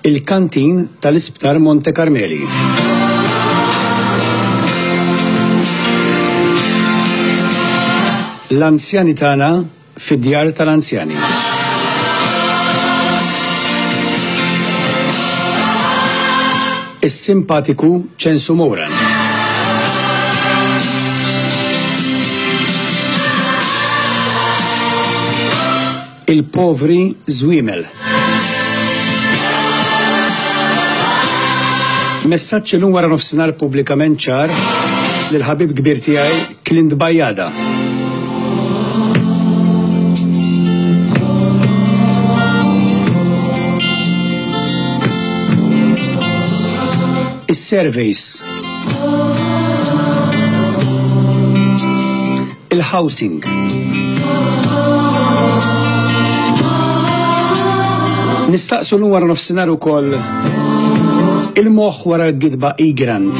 Il-Kantin tal-Isptar Monte Karmeli. l-anzjani tagħna fid-djar tal-anzjani. Is-simpatiku ċensu Moran. Il-povri żwiemel. Messaġġ illum wara nofsinhar pubblikament ċar lil ħabib kbir tiegħi Clint Bajada. Is-surveys il-housing. Nistaqsu l wara nofsinhar ukoll il-moħħ wara l-gidba igrant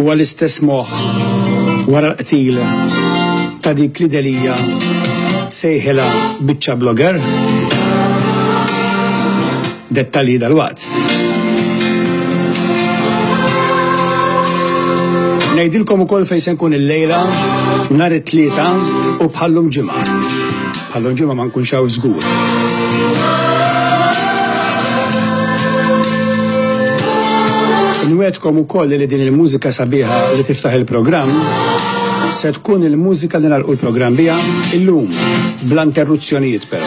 u għal-istess moħħ wara l-qtil ta' dik li delija sejħela biċċa blogger. Dettalji dalwaqt. Ngħidilkom ukoll fejn se nkun il-lejla nhar it-tlieta u bħallum ġimgħa. Bħallum ġimgħa ma nkunx hawn żgur. Nwedkom ukoll li din il-mużika sabiħa li tiftaħ il-programm se tkun il-mużika li nagħlqu l-programm biha illum bla interruzzjonijiet però.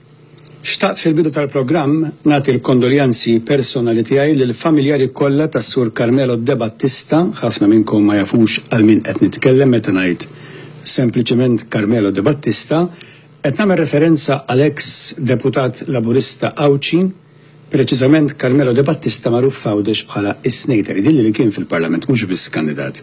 Xtaqt fil-bidu tal-programm nagħti l-kondoljanzi personali tiegħi lill-familjari kollha tas-Sur Carmelo Debattista, ħafna minnkom ma jafux għal min qed nitkellem meta ngħid sempliċement Carmelo Debattista, qed nagħmel referenza għal eks Deputat Laburista Għawdxi, Preċiżament Carmelo De Battista magħruf f'Għawdex bħala s-Snater, jidhirli li kien fil-Parlament mhux biss kandidat.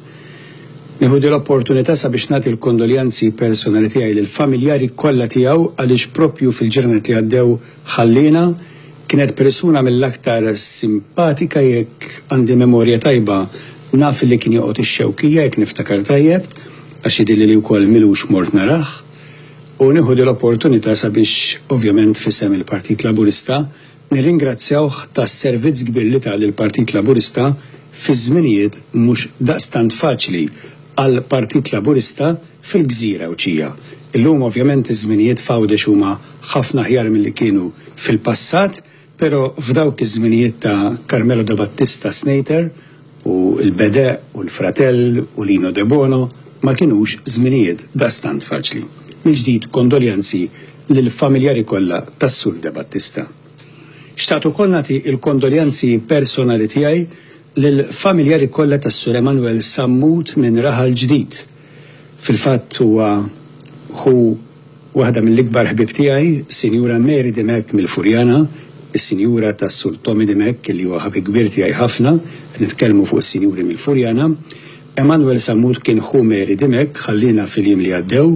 Nieħu din l-opportunità sabiex nagħti l-kondoljanzi personali tiegħi lill-familjari kollha tiegħu għaliex proprju fil-ġranet li għaddew ħalliena, kienet persuna mill-aktar simpatika jekk għandi memorja tajba naf li kien joqgħod ix-Xewkija jekk niftakar tajjeb għax jidhirli li wkoll m'ilux mort narah. U nieħu din l-opportunità sabiex, ovvjament f'isem il-Partit Laburista, nirringrazzjawh tas-servizz kbir li ta lill-Partit Laburista fi żminijiet mhux daqstant faċli għall-Partit Laburista fil-Gżira Għawdxija. Illum ovvjament iż-żminijiet f'Għawdex huma ħafna aħjar milli kienu fil-passat, Pero f'dawk iż-żminijiet ta' Carmelo de Battista Snater u l-Bede u l-Fratell u Lino Debono ma kienux żminijiet daqstant faċli. Mill-ġdid kondoljanzi lill-familjari kollha tas-Sur de Battista. Xtaqt ukoll nagħti l-kondoljanzi personali tiegħi lill-familjari kollha tas-Sur Emanuel Sammut minn Raħal Ġdid, Fil-fatt huwa ħu waħda mill-ikbar ħbieb tiegħi, Sinjura Mary Dimech mill-Furjana, is-Sinjura tas-Sur Tommy Dimech li huwa ħabib kbir tiegħi ħafna, qed nitkellmu fuq is-Sinjuri mill-Furjana. Emmanuel Sammut kien ħu Mary Dimech, ħalliena fil-jiem li għaddew.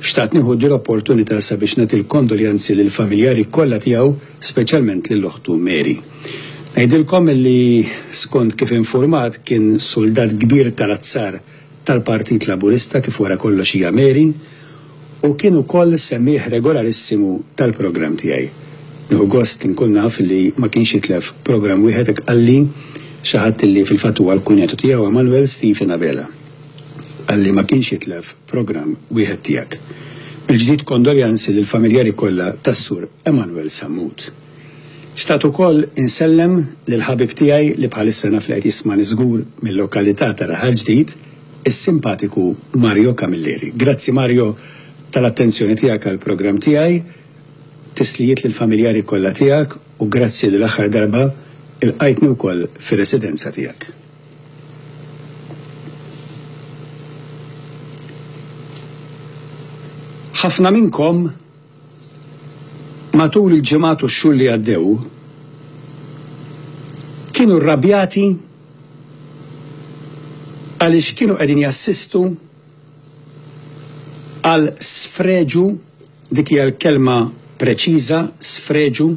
Xtaqt nieħu din l-opportunità sabiex nagħti l-kondoljanzi lill-familjari kollha tiegħu, speċjalment lil oħtu Mary. Ngħidilkom li skont kif infurmat kien suldat kbir tal-azzar tal-Partit Laburista kif wara kollox hija Mary u kien ukoll semmiegħ regolarissimu tal-programm tiegħi. Nieħu gost inkun naf li ma kienx jitlef programm wieħed hekk qalli xi ħadd li fil-fatt huwa l-kunjatu tiegħu Emmanuel Stephen Abela. Qalli ma kienx jitlef programm wieħed tiegħek. Mill-ġdid kondoljanzi lill-familjari kollha tas-Sur Emmanuel Sammut. Xtaqt ukoll insellem lil ħabib tiegħi li bħalissa naf li qed jismani żgur mil-lokalità ta' Raħal Ġdid, is-simpatiku Mario Camilleri. Grazzi Mario tal-attenzjoni tiegħek għall-programm tiegħi, tislijiet lill-familjari kollha tiegħek u grazzi li l-aħħar darba ilqajtni wkoll fir-residenza tiegħek. Ħafna minnkom Matul il-ġimgħat u x-xhur li għaddew, kienu rrabjati għaliex kienu qegħdin jassistu għal sfreġu, dik hija l-kelma preċiża, sfreġu,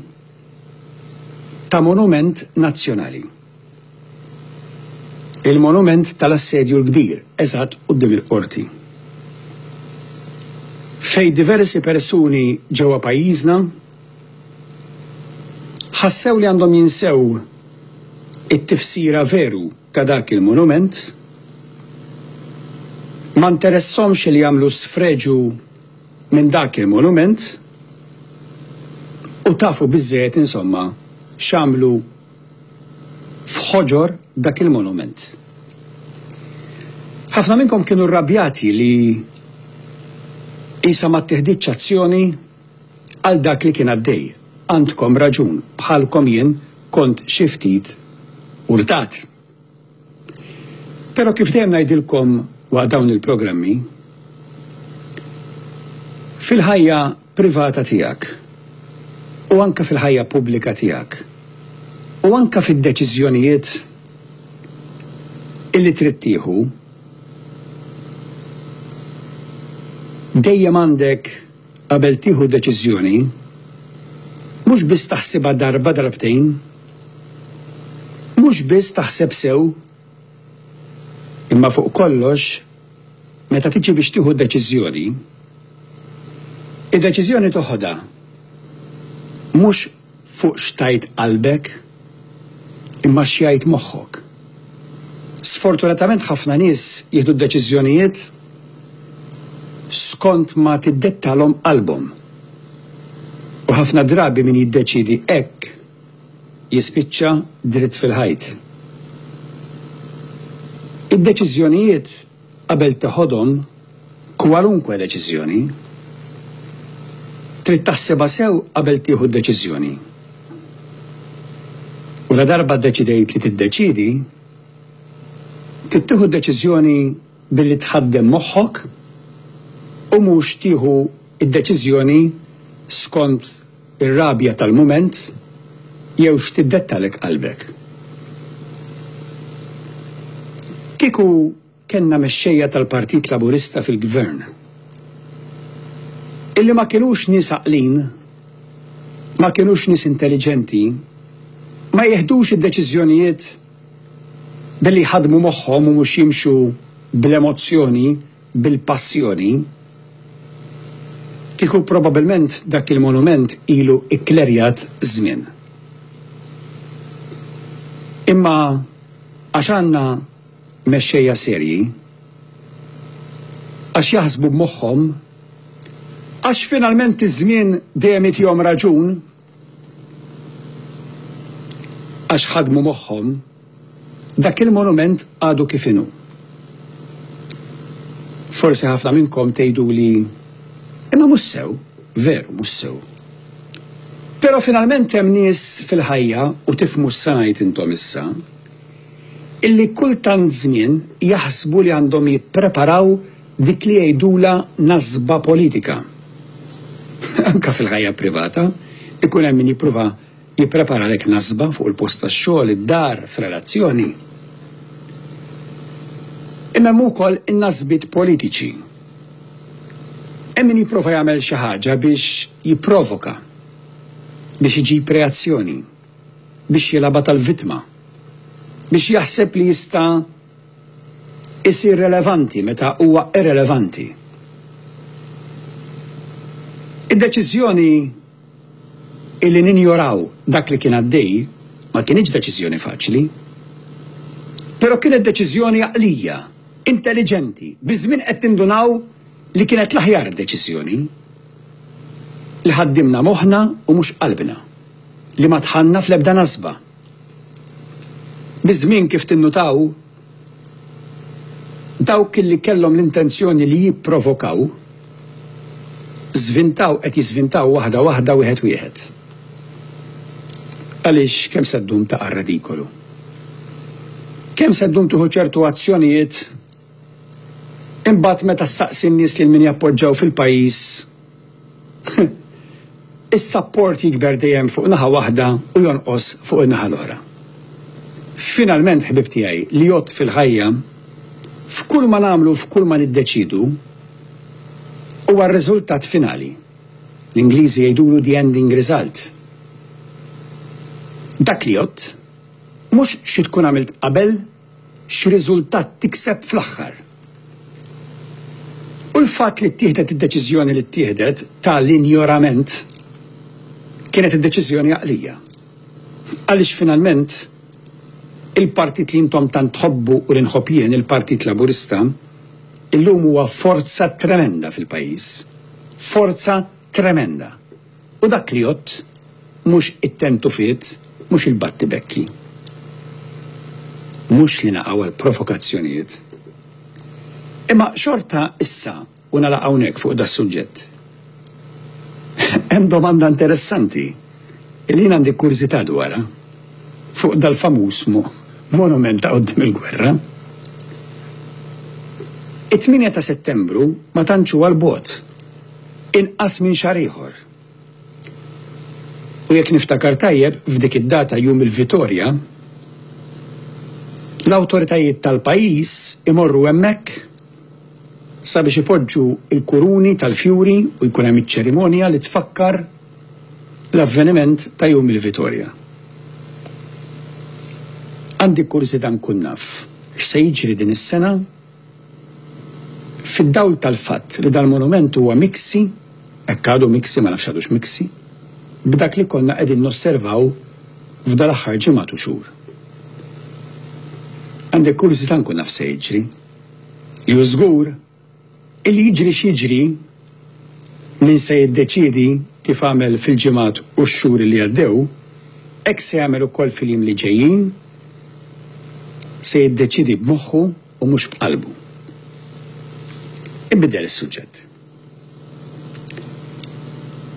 ta' monument nazzjonali. Il-monument tal-Assedju l-Kbir, eżatt quddiem il-Qorti. Fejn diversi persuni ġewwa pajjiżna ħassew li għandhom jinsew it-tifsira veru ta' dak il-monument, ma nteressahomx li jagħmlu sfreġu minn dak il-monument u tafu biżżejjed insomma x'għamlu f'ħoġor dak il-monument. Ħafna minnkom kienu rrabjati li qisha ma ttiħditx azzjoni għal dak li kien għaddej. Għandkom raġun, bħalkom jien kont xi ftit urtat. Però kif dejjem ngħidilkom waqt dawn il-programmi, fil-ħajja privata tiegħek u anke fil-ħajja pubblika tiegħek u anke fid-deċiżjonijiet illi trid tieħu, dejjem għandek Qabel tieħu deċiżjoni, mhux biss taħsibha darba darbtejn, mhux biss taħseb sew, imma fuq kollox meta tiġi biex tieħu deċiżjoni, id-deċiżjoni toħodha mhux fuq x'tgħid qalbek, imma x'jgħid moħħok. Sfortunatament ħafna nies jieħdu deċiżjonijiet skont ma tiddettalhom qalbhom. U ħafna drabi min jiddeċiedi hekk jispiċċa dritt fil-ħajt. Id-deċiżjonijiet Qabel teħodhom kwalunkwe deċiżjoni, trid taħsibha sew qabel tieħu d-deċiżjoni. U ladarba ddeċidejt li tiddeċiedi, trid tieħu d-deċiżjoni billi tħaddem moħħok u mhux tieħu d-deċiżjoni skont Ir-rabja tal-mument jew x'tiddettalek qalbek? Kieku kellna mexxejja tal-Partit Laburista fil-Gvern illi ma kinux nies għaqlin, ma kinux nies intelliġenti, ma jieħdux id-deċiżjonijiet billi jħaddmu moħħhom u mhux jimxu bl-emozzjoni, bil-Passjoni, kieku probabbilment dak il-monument ilu kklerjat żmien. Imma għax għandna mexxejja serji, għax jaħsbu b'moħħhom, għax finalment iż-żmien dejjem jtihom raġun, għax ħadmu moħħhom, dak il-monument għadu kif inhu. Forsi ħafna minnkom tgħiduli imma mhux sew, veru mhux sew. Però finalment hemm nies fil-ħajja u tifhmu x'sajt intom issa, illi kull tant żmien jaħsbu li għandhom jippreparaw Dik li jgħidulha nasba politika. Anke fil-ħajja privata, ikun hemm min jipprova jippreparalek nasba fuq il-post tax-xogħol, id-dar, f'relazzjoni. Imma hemm ukoll in-nasbiet politiċi. Hemm min jipprova jagħmel xi ħaġa biex jipprovoka, biex iġib reazzjoni, biex jilgħabha tal-vittma, biex jaħseb li jista' isir relevanti meta huwa irrelevanti. Id-deċiżjoni illi ninjoraw dak li kien għaddej ma kinitx deċiżjoni faċli. Però kienet deċiżjoni għaqlija, intelliġenti, biż-żmien qed nindunaw li kienet l-aħjar deċiżjoni. Li ħaddimna moħħna u mhux qalbna. Li ma dħalna fl-ebda nasba. Biż-żmien kif tinnutaw, dawk li kellhom l-intenzjoni li jipprovokaw, żvintaw qed jiżvintaw waħda waħda wieħed wieħed. Għaliex kemm se ddum taqa' redikolu? Kemm se ddum tieħu ċertu azzjonijiet imbagħad meta ssaqsi n-nies lil min jappoġġaw fil-pajjiż is-sapport jikber dejjem fuq naħa waħda u jonqos fuq in-naħa l-oħra. Finalment ħbieb tiegħi li għodt fil-ħajja, f'kull ma nagħmlu u f'kull ma niddeċiedu huwa r-riżultat finali. L-Ingliżi jgħidulu the ending result. Dak li għodt, mhux xi tkun għamilt qabel, x'riżultat tikseb fl-aħħar. U l-fatt li ttieħdet id-deċiżjoni li ttieħdet ta' l-injorament kienet id-deċiżjoni għaqlija. Għaliex finalment il-partit li intom tant tħobbu u li nħobb jien, il-Partit Laburista, illum huwa forza tremenda fil-pajjiż. Forza tremenda. U dak li jgħodd mhux it-tentufiet, mhux il-battibekki, mhux li naqgħu għal provokazzjonijiet. Imma xorta issa, u nagħlaq hawnhekk fuq das-suġġett, hemm domanda interessanti li jien għandi kurżità dwarha fuq dal-famuż monument ta' quddiem il-gwerra. It-tmienja ta' Settembru ma tantx huwa 'l bogħod. inqas minn xahar ieħor. U jekk niftakar tajjeb, f'dik id-data jum il-Vitorja, l-awtoritajiet tal-pajjiż imorru hemmhekk sabiex ipoġġu l-kuruni tal-fjuri u jkun hemm iċ-ċerimonja li tfakkar l-avveniment ta' jum il-Vitorja. Għandi kurżità nkun naf x'se jiġri din is-sena? Fid-dawl tal-fatt li dal-monument huwa miksi, hekk għadu miksi, ma nafx għadux miksi, b'dak li konna qegħdin nosservaw f'dal-aħħar ġimgħat u xhur. Għandi kurżità nkun naf x'se jiġri. Li hu żgur, illi jiġri x'jiġri, Min se jiddeċiedi, kif għamel fil-ġimgħat u x-xhur li għaddew, hekk se jagħmel ukoll fil-jiem li ġejjin, se jiddeċiedi b'moħħu u mhux b'qalbu. Inbidel is-suġġett.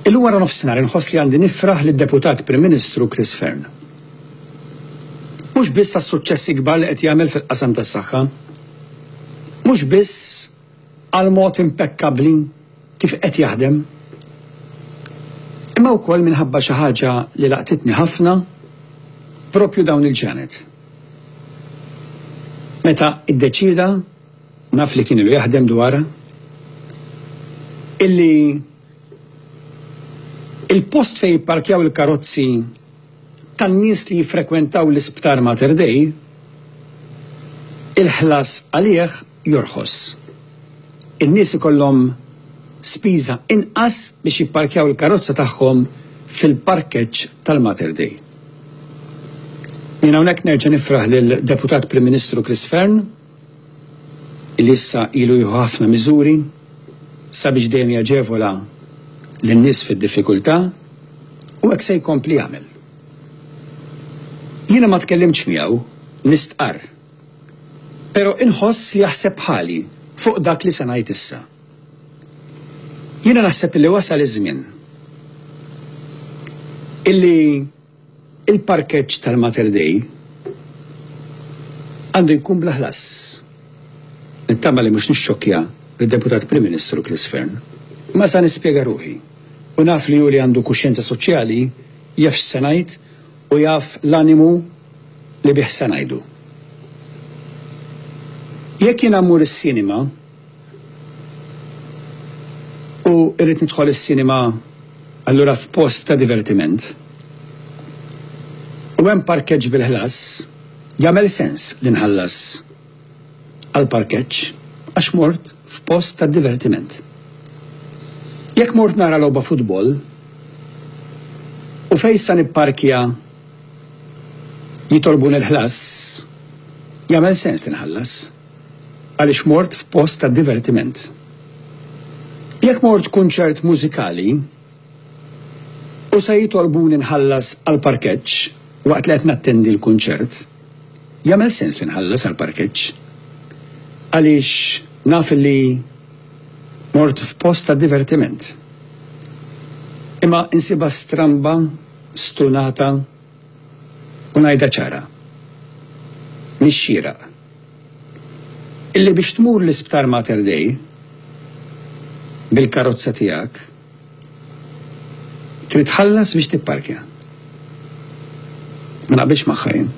Illum waranofsinhar inħoss li għandi nifraħ lid-Deputat Prim Ministru Chris Fearne. Mhux biss għas-suċċessi kbar li qed jagħmel fil-qasam tas-saħħa, mhux biss għal mod impekkabbli kif qed jaħdem, imma wkoll minħabba xi ħaġa li laqtitni ħafna proprju dawn il-ġranet. Meta iddeċieda, naf li kien ilu jaħdem dwarha, illi il-post fejn jipparkjaw il-karozzi tan-nies li jiffrekwentaw l-Isptar Mater Dei, il-ħlas għalih jorħos. In-nies ikollhom spiża inqas biex jipparkjaw il-karozza tagħhom fil-parkeġġ tal-Mater Dei. Jien hawnhekk nerġa' nifraħ lill-Deputat Prim Ministru Chris Fearne, li issa ilu jieħu ħafna miżuri sabiex dejjem jaġevola lin-nies fid-diffikultà u hekk se jkompli jagħmel. Jiena ma tkellimtx miegħu, nistqarr. Però inħoss li jaħseb bħali fuq dak li se ngħid issa. Jiena naħseb li wasal iż-żmien illi Il-parkeġġ tal-Mater Dei għandu jkun bla ħlas. Nittama li mhux nixxokkja lid-Deputat Prim Ministru Chris Fearne. Imma sa nispjega ruħi. U naf li hu li għandu kuxjenza soċjali jaf x'se ngħid u jaf l-animu li bih se ngħidu. Jekk jiena mmur is-cinema, U irrid nidħol is-sinema allura f'post ta' divertiment. U hemm parkeġġ bil-ħlas, jagħmel sens li nħallas għall-parkeġġ għax mort f'post ta' divertiment. Jekk mort nara logħba futbol, u fejn sa nipparkja jitolbuni l-ħlas, jagħmel sens li nħallas. għaliex mort f'post ta' divertiment. Jekk mort kunċert mużikali u se jitolbuni nħallas għall-parkeġġ waqt li qed nattendi l-kunċert, jagħmel sens li nħallas għall-parkeġġ għaliex naf li mort f'post ta' divertiment. Imma insibha stramba, stunata u ngħidha ċara, mhix xieraq. illi biex tmur l-Isptar Mater Dei bil-karozza tiegħek trid tħallas biex tipparkja. Ma naqbilx magħha jien.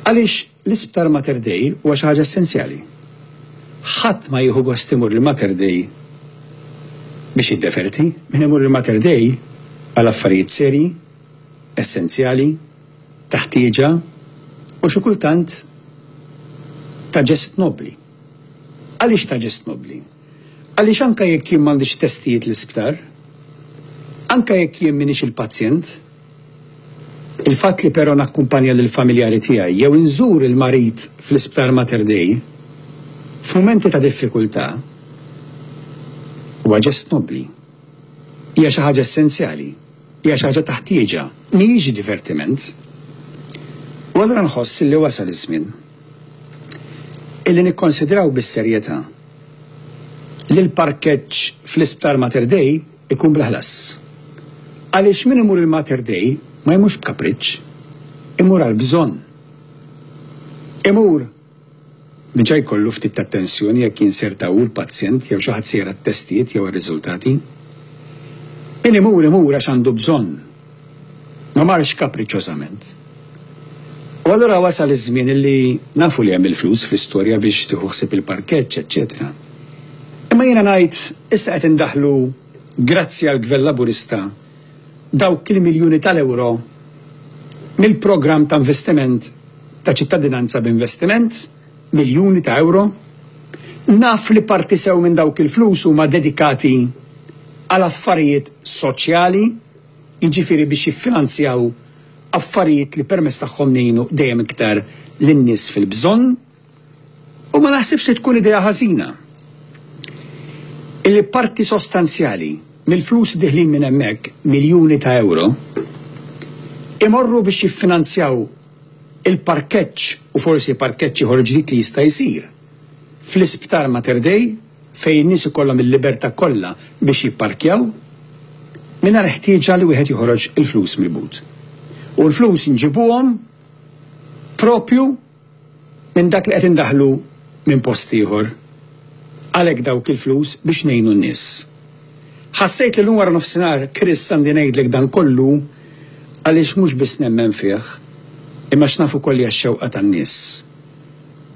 Għaliex l-Isptar Mater Dei huwa xi ħaġa essenzjali. Ħadd ma jieħu gost imur il-Mater Dei biex jiddeferti, min imur il-Mater Dei għal affarijiet serji, essenzjali, ta' ħtieġa u xi kultant ta' ġest nobbli. Għaliex ta' ġest nobbli? Għaliex anke jekk jien m'għandix testijiet l-isptar, anke jekk jien m'iniex il-pazjent, il-fatt li però nakkumpanja lill-familjari tiegħi jew inżur il-marid fl-Isptar Mater Dei f'mumenti ta' diffikultà huwa ġest nobbli, hija xi ħaġa essenzjali. Hija xi ħaġa ta' ħtieġa, mhijiex divertiment. U allura nħoss illi wasal iż-żmien illi nikkonsidraw bis-serjetà li l-parkeġġ fl-Isptar Mater Dei jkun bla ħlas. Għaliex min imur il-Mater Dei ma jmurx b'kapriċċ, imur għal bżonn. Imur. Diġà jkollu ftit ta' tensjoni jekk jinserta hu l-pazjent jew xi ħadd se jara t-testijiet jew ir-riżultati. Min imur imur għax għandu bżonn, ma marx kapriċċożament. U allura wasal iż-żmien illi nafu li hemm il-flus fl-istorja biex tieħu ħsieb il-parkeġġ, eċċetera. Imma jiena ngħid issa qed indaħħlu grazzi għall-Gvern Laburista, dawk il-miljuni tal-ewro mill-programm ta' investiment ta' Ċittadinanza b'Investiment, miljuni ta' ewro. Naf li parti sew minn dawk il-flus huma dedikati għal affarijiet soċjali, jiġifieri biex jiffinanzjaw affarijiet li permezz tagħhom ngħinu dejjem iktar lin-nies fil-bżonn. U ma naħsibx li tkun idea ħażina illi parti sostanzjali mill-flus li diħlin minn hemmhekk, miljuni ta' ewro, imorru biex jiffinanzjaw il-parkeġġ u forsi parkeġġ ieħor ġdid li jista' jsir fl-Isptar Mater Dei fejn in-nies ikollhom il-libertà kollha biex jipparkjaw mingħajr ħtieġa li wieħed joħroġ il-flus mill-but. U l-flus nġibuhom proprju minn dak li qed indaħħlu minn post ieħor. Għalhekk dawk il-flus biex ngħinu n-nies. Ħassejt li llum waranofsinhar, Chris, għandi ngħidlek dan kollu għaliex mhux biss nemmen fih, imma għax naf ukoll li għax-xewqa tan-nies.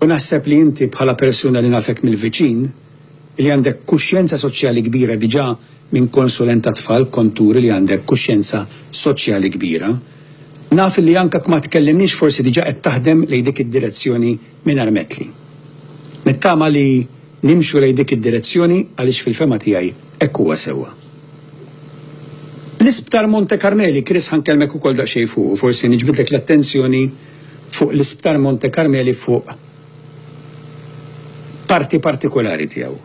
U naħseb li inti bħala persuna li nafek mill-viċin, li għandek kuxjenza soċjali kbira diġà minn konsulent tat-tfal kont turi li għandek kuxjenza soċjali kbira. Naf li anke jekk ma tkellimniex forsi diġà qed taħdem lejn dik id-direzzjoni minn armetli. Nittama li nimxu lejn dik id-direzzjoni għaliex fil-fehma tiegħi hekk huwa sewwa. L-Isptar Monte Carmeli, Chris ħa nkellmek ukoll daqsxejn fuqu, forsi niġbidlek l-attenzjoni fuq l-Isptar Monte Carmeli fuq parti partikulari tiegħu.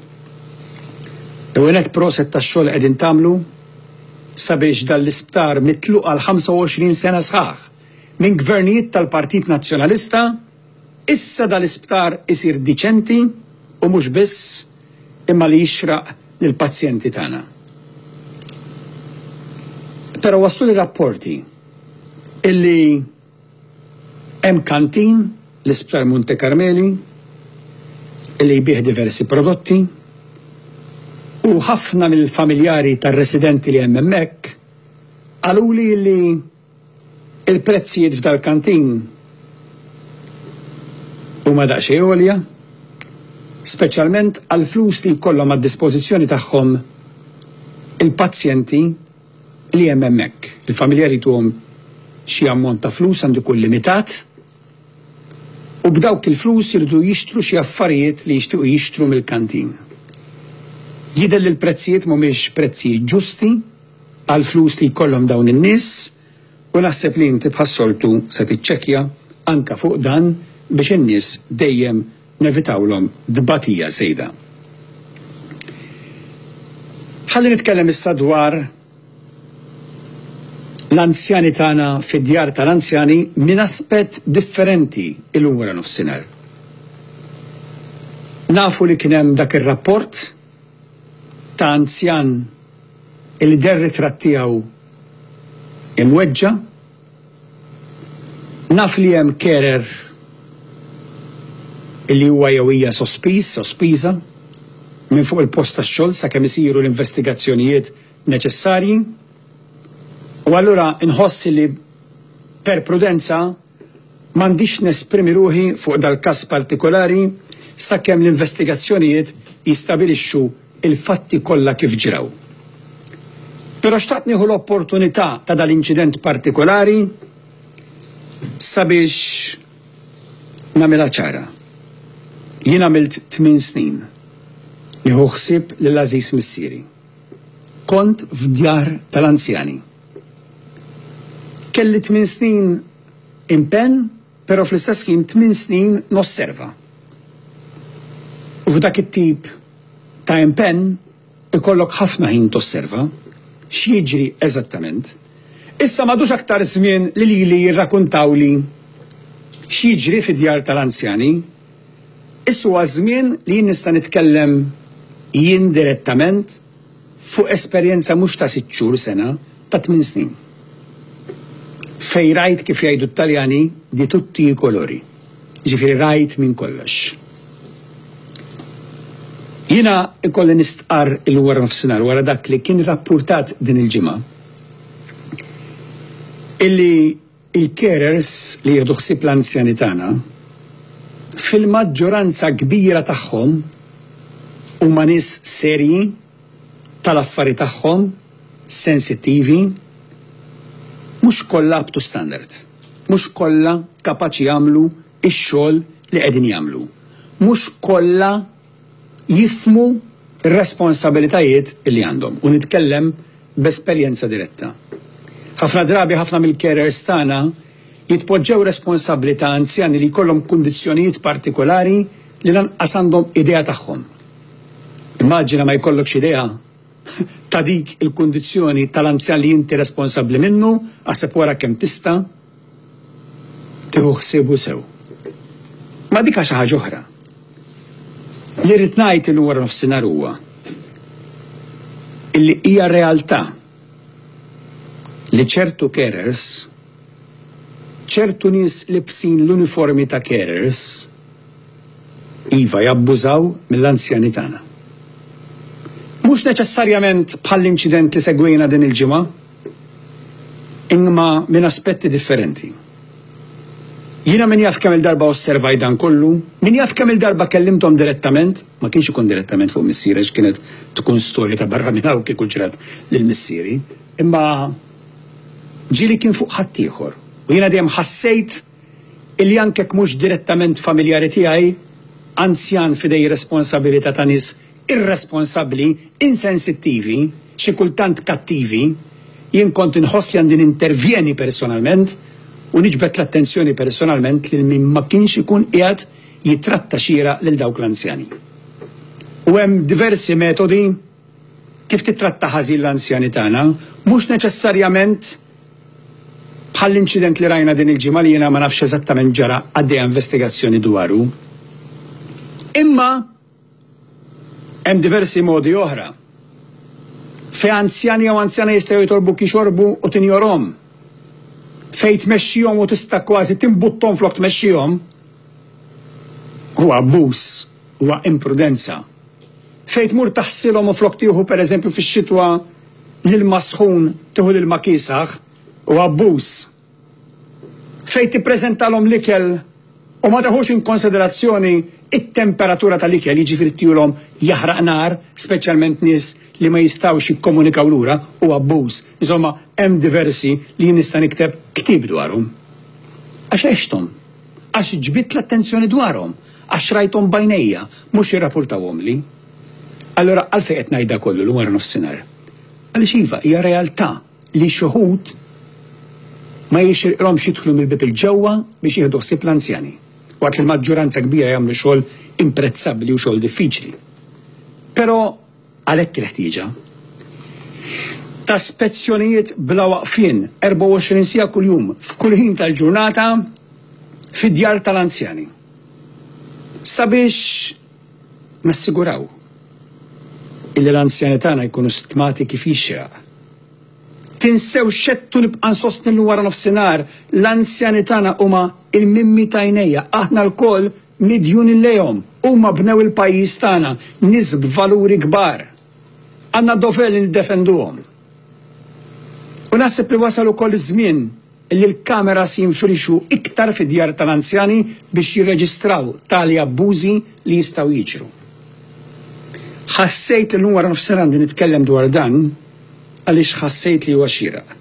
L-ewwel nett proset tax-xogħol li qegħdin tagħmlu sabiex dan l-isptar mitluq għal 25 sena sħaħ minn gvernijiet tal-Partit Nazzjonalista, issa dal-isptar isir diċenti u mhux biss imma li jixraq lill-pazjenti tagħna. Però wasluni rapporti illi Hemm kantin, l-Isptar Monte Carmeli, li jbigħ diversi prodotti u ħafna mill-familjari tar-residenti li hemm hemmhekk qaluli li l-prezzijiet f'dal-kantin huma daqsxejn għolja, speċjalment għall-flus li jkollhom għad-dispożizzjoni tagħhom il-pazjenti. li hemm hemmhekk. Il-familja jrid ituhom xi ammont ta' flus, għandu jkun limitat, u b'dawk il-flus iridu jixtru xi affarijiet li jixtiequ jixtru mill-kantin. Jidher li l-prezzijiet mhumiex prezzijiet ġusti għall-flus li jkollhom dawn in-nies u naħseb li inti bħas-soltu se tiċċekkja anke fuq dan biex in-nies dejjem nevitawlhom tbatija żejda. Ħalli nitkellem issa dwar l-anzjani tagħna fid-djar tal-anzjani minn aspett differenti illum wara nofsinhar. Nafu li kien hemm dak ir-rapport ta' anzjan li deher ritratt tiegħu imweġġa' Naf li hemm carer li huwa jew hija sospiż, sospiża, minn fuq il-post tax-xogħol sakemm isiru l-investigazzjonijiet neċessarji u allura nħoss li per prudenza m'għandix nesprimi ruħi fuq dal-każ partikolari sakemm l-investigazzjonijiet jistabilixxu il-fatti kollha kif ġrew. Però xtaqt nieħu l-opportunità ta' dal-inċident partikolari sabiex nagħmilha ċara. Jien għamilt tmien snin nieħu ħsieb lil għażiż missieri. Kont f'djar tal-anzjani. Kelli tmien snin impenn, Però fl-istess ħin tmien snin nosserva. U f'dak it-tip ta' impenn ikollok ħafna ħin tosserva x'jiġri eżattament. Issa m'għadux aktar żmien li lili jirrakuntawli x'jiġri fid-djar tal-anzjani. Issa huwa żmien li jien nista' nitkellem jien direttament fuq esperjenza mhux ta' sitt xhur, sena, ta' tmien snin. Fejn rajt kif jgħidu t-Taljani di tutti i colori. Jiġifieri rajt minn kollox. Jiena ikolli nistqarr illum wara nofsinhar wara dak li kien rappurtat din il-ġimgħa illi Il-carers li jieħdu ħsieb l-anzjani tagħna, fil-maġġoranza kbira tagħhom huma nies serji, tal-affari tagħhom, sensittivi, mhux kollha up to standard, mhux kollha kapaċi jagħmlu x-xogħol li qegħdin jagħmlu, mhux kollha jifhmu r-responsabilitajiet li għandhom, u nitkellem b'esperjenza diretta. Ħafna drabi ħafna mill-carers tagħna jitpoġġew responsabbli ta' anzjani li jkollhom kundizzjonijiet partikolari li lanqas għandhom idea tagħhom. Immaġina ma jkollokx idea ta' dik il-kundizzjoni tal-anzjan li inti responsabbli minnu, aħseb wara kemm tista'. tieħu ħsiebu sew. Ma dika xi ħaġa oħra. Li rrid ngħid illum wara nofsinhar huwa illi hija realtà li ċertu carers, ċertu nies libsin l-uniformi ta' carers, iva jabbużaw mill-anzjani tagħna. Mhux neċessarjament bħall-inċident li segwejna din il-ġimgħa, imma minn aspetti differenti. Jiena min jaf kemm-il darba osservajt dan kollu, min jaf kemm-il darba kellimthom direttament, ma kienx ikun direttament fuq missieri għax kienet tkun storja ta' barra minn hawn kieku ġrat lil missieri, imma ġieli kien fuq ħaddieħor u jiena dejjem ħassejt illi anke jekk mhux direttament familjari tiegħi, anzjan f'idej responsabilità ta' nies irresponsabbli, insensittivi, xi kultant kattivi, jien kont inħoss li għandi nintervjeni personalment u niġbed l-attenzjoni personalment lil min ma kienx ikun qiegħed jittratta xieraq lil dawk l-anzjani. U hemm diversi metodi. Kif tittratta ħażin l-anzjani tagħna, mhux neċessarjament bħall-inċident li rajna din il-ġimgħa li jiena ma nafx eżattament ġara għaddejja investigazzjoni dwaru. Imma hemm diversi modi oħra fejn anzjani jew anzjana jistgħu jitolbuk jixorbu u tinjorhom. Fejn tmexxihom u tista' kważi timbutthom flok tmexxihom huwa abbuż, huwa imprudenza. Fejn tmur taħsilhom minflok tieħu pereżempju fix-xitwa l-ilma sħun tieħu l-ilma kiesaħ, huwa abbuż. Fejn tippreżentalhom l-ikel u ma teħux inkonsiderazzjoni t-temperatura tal-ikel, jiġifieri tihulhom jaħraq nar, speċjalment nies li ma jistgħux jikkomunikaw lura, huwa abbuż. Insomma, hemm diversi li jien nista' nikteb ktieb dwarhom. Għax għexthom. għax ġbidt l-attenzjoni dwarhom, għax rajthom b'għajnejja, mhux irrapurtawhomli. Allura għalfejn qed ngħid da kollu llum wara nofsinhar? Għaliex iva, hija realtà li xi wħud ma jixirqilhomx jidħlu mill-bieb 'il ġewwa biex jieħdu ħsieb l-anzjani, waqt li l-maġġuranza kbira jagħmlu xogħol imprezzabbli u xogħol diffiċli. Però, Għalhekk il-ħtieġa ta' spezzjonijiet bla waqfien 24 siegħa kuljum f'kull ħin tal-ġurnata fid-djar tal-anzjani sabiex nassiguraw illi l-anzjani tagħna jkunu stmati kif jixraq. Tinsewx x'għedtu nibqa' nsostni li wara nofsinhar l-anzjani tagħna huma l-mimmi t'għajnejja. Aħna lkoll midjuni lejhom, huma bnew il-pajjiż tagħna, nies b'valuri kbar. Għandna d-dover li niddefenduhom. U naħseb li wasal ukoll iż-żmien li l-kameras jinfirxu iktar fid-djar tal-anzjani biex jirreġistraw tali abbużi li jistgħu jiġru. Ħassejt li llum wara nofsinhar għandi nitkellem dwar dan għaliex ħassejt li huwa xieraq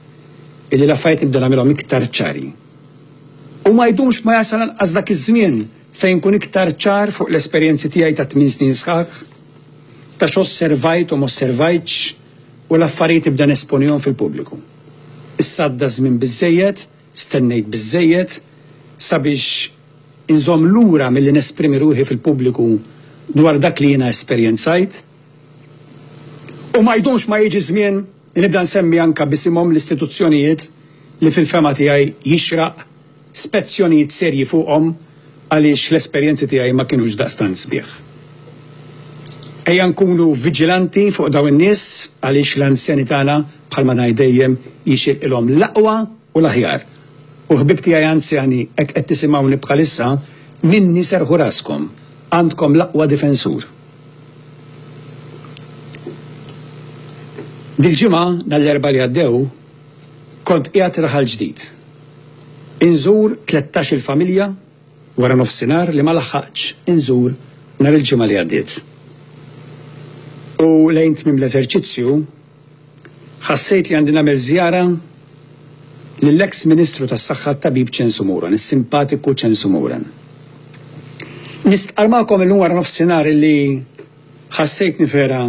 illi l-affarijiet nibda nagħmilhom iktar ċari. U ma jdumx ma jasal lanqas dak iż-żmien fejn nkun iktar ċar fuq l-esperjenzi tiegħi ta' tmien snin sħaħ, ta' x'osservajt u m'osservajtx u l-affarijiet nibda nesponihom fil-pubbliku. Issa għadda ż-żmien biżżejjed, stennejt biżżejjed, sabiex inżomm lura milli nesprimi ruħi fil-pubbliku dwar dak li jiena esperjenzajt. U ma jdumx ma jiġi ż-żmien li nibda nsemmi anke b'isimhom l-istituzzjonijiet li fil-fehma tiegħi jixraq spezzjonijiet serji fuqhom għaliex l-esperjenzi tiegħi ma kinux daqstant sbieħ. Ejja nkunu viġilanti fuq dawn in-nies għaliex l-anzjani tagħna bħalma ngħid dejjem jixirqilhom l-aqwa u l-aħjar. U ħbieb tiegħi anzjani hekk qed tisimgħuni bħalissa minni serrħu raskom, għandkom l-aqwa difensur. Dil-ġimgħa, nhar l-Erbgħa li għaddew, kont qiegħed Raħal Ġdid. Inżur tlettax-il familja wara nofsinhar li ma laħħaqtx inżur nhar il-Ġimgħa li għaddiet. U lejn tmiem l-eżerċizzju, Ħassejt li għandi nagħmel żjara lill-eks Ministru tas-Saħħa t-Tabib Chen Sumuran, is-simpatiku Chen Sumuran. Nistqarr magħkom illum wara nofsinhar illi ħassejtni vera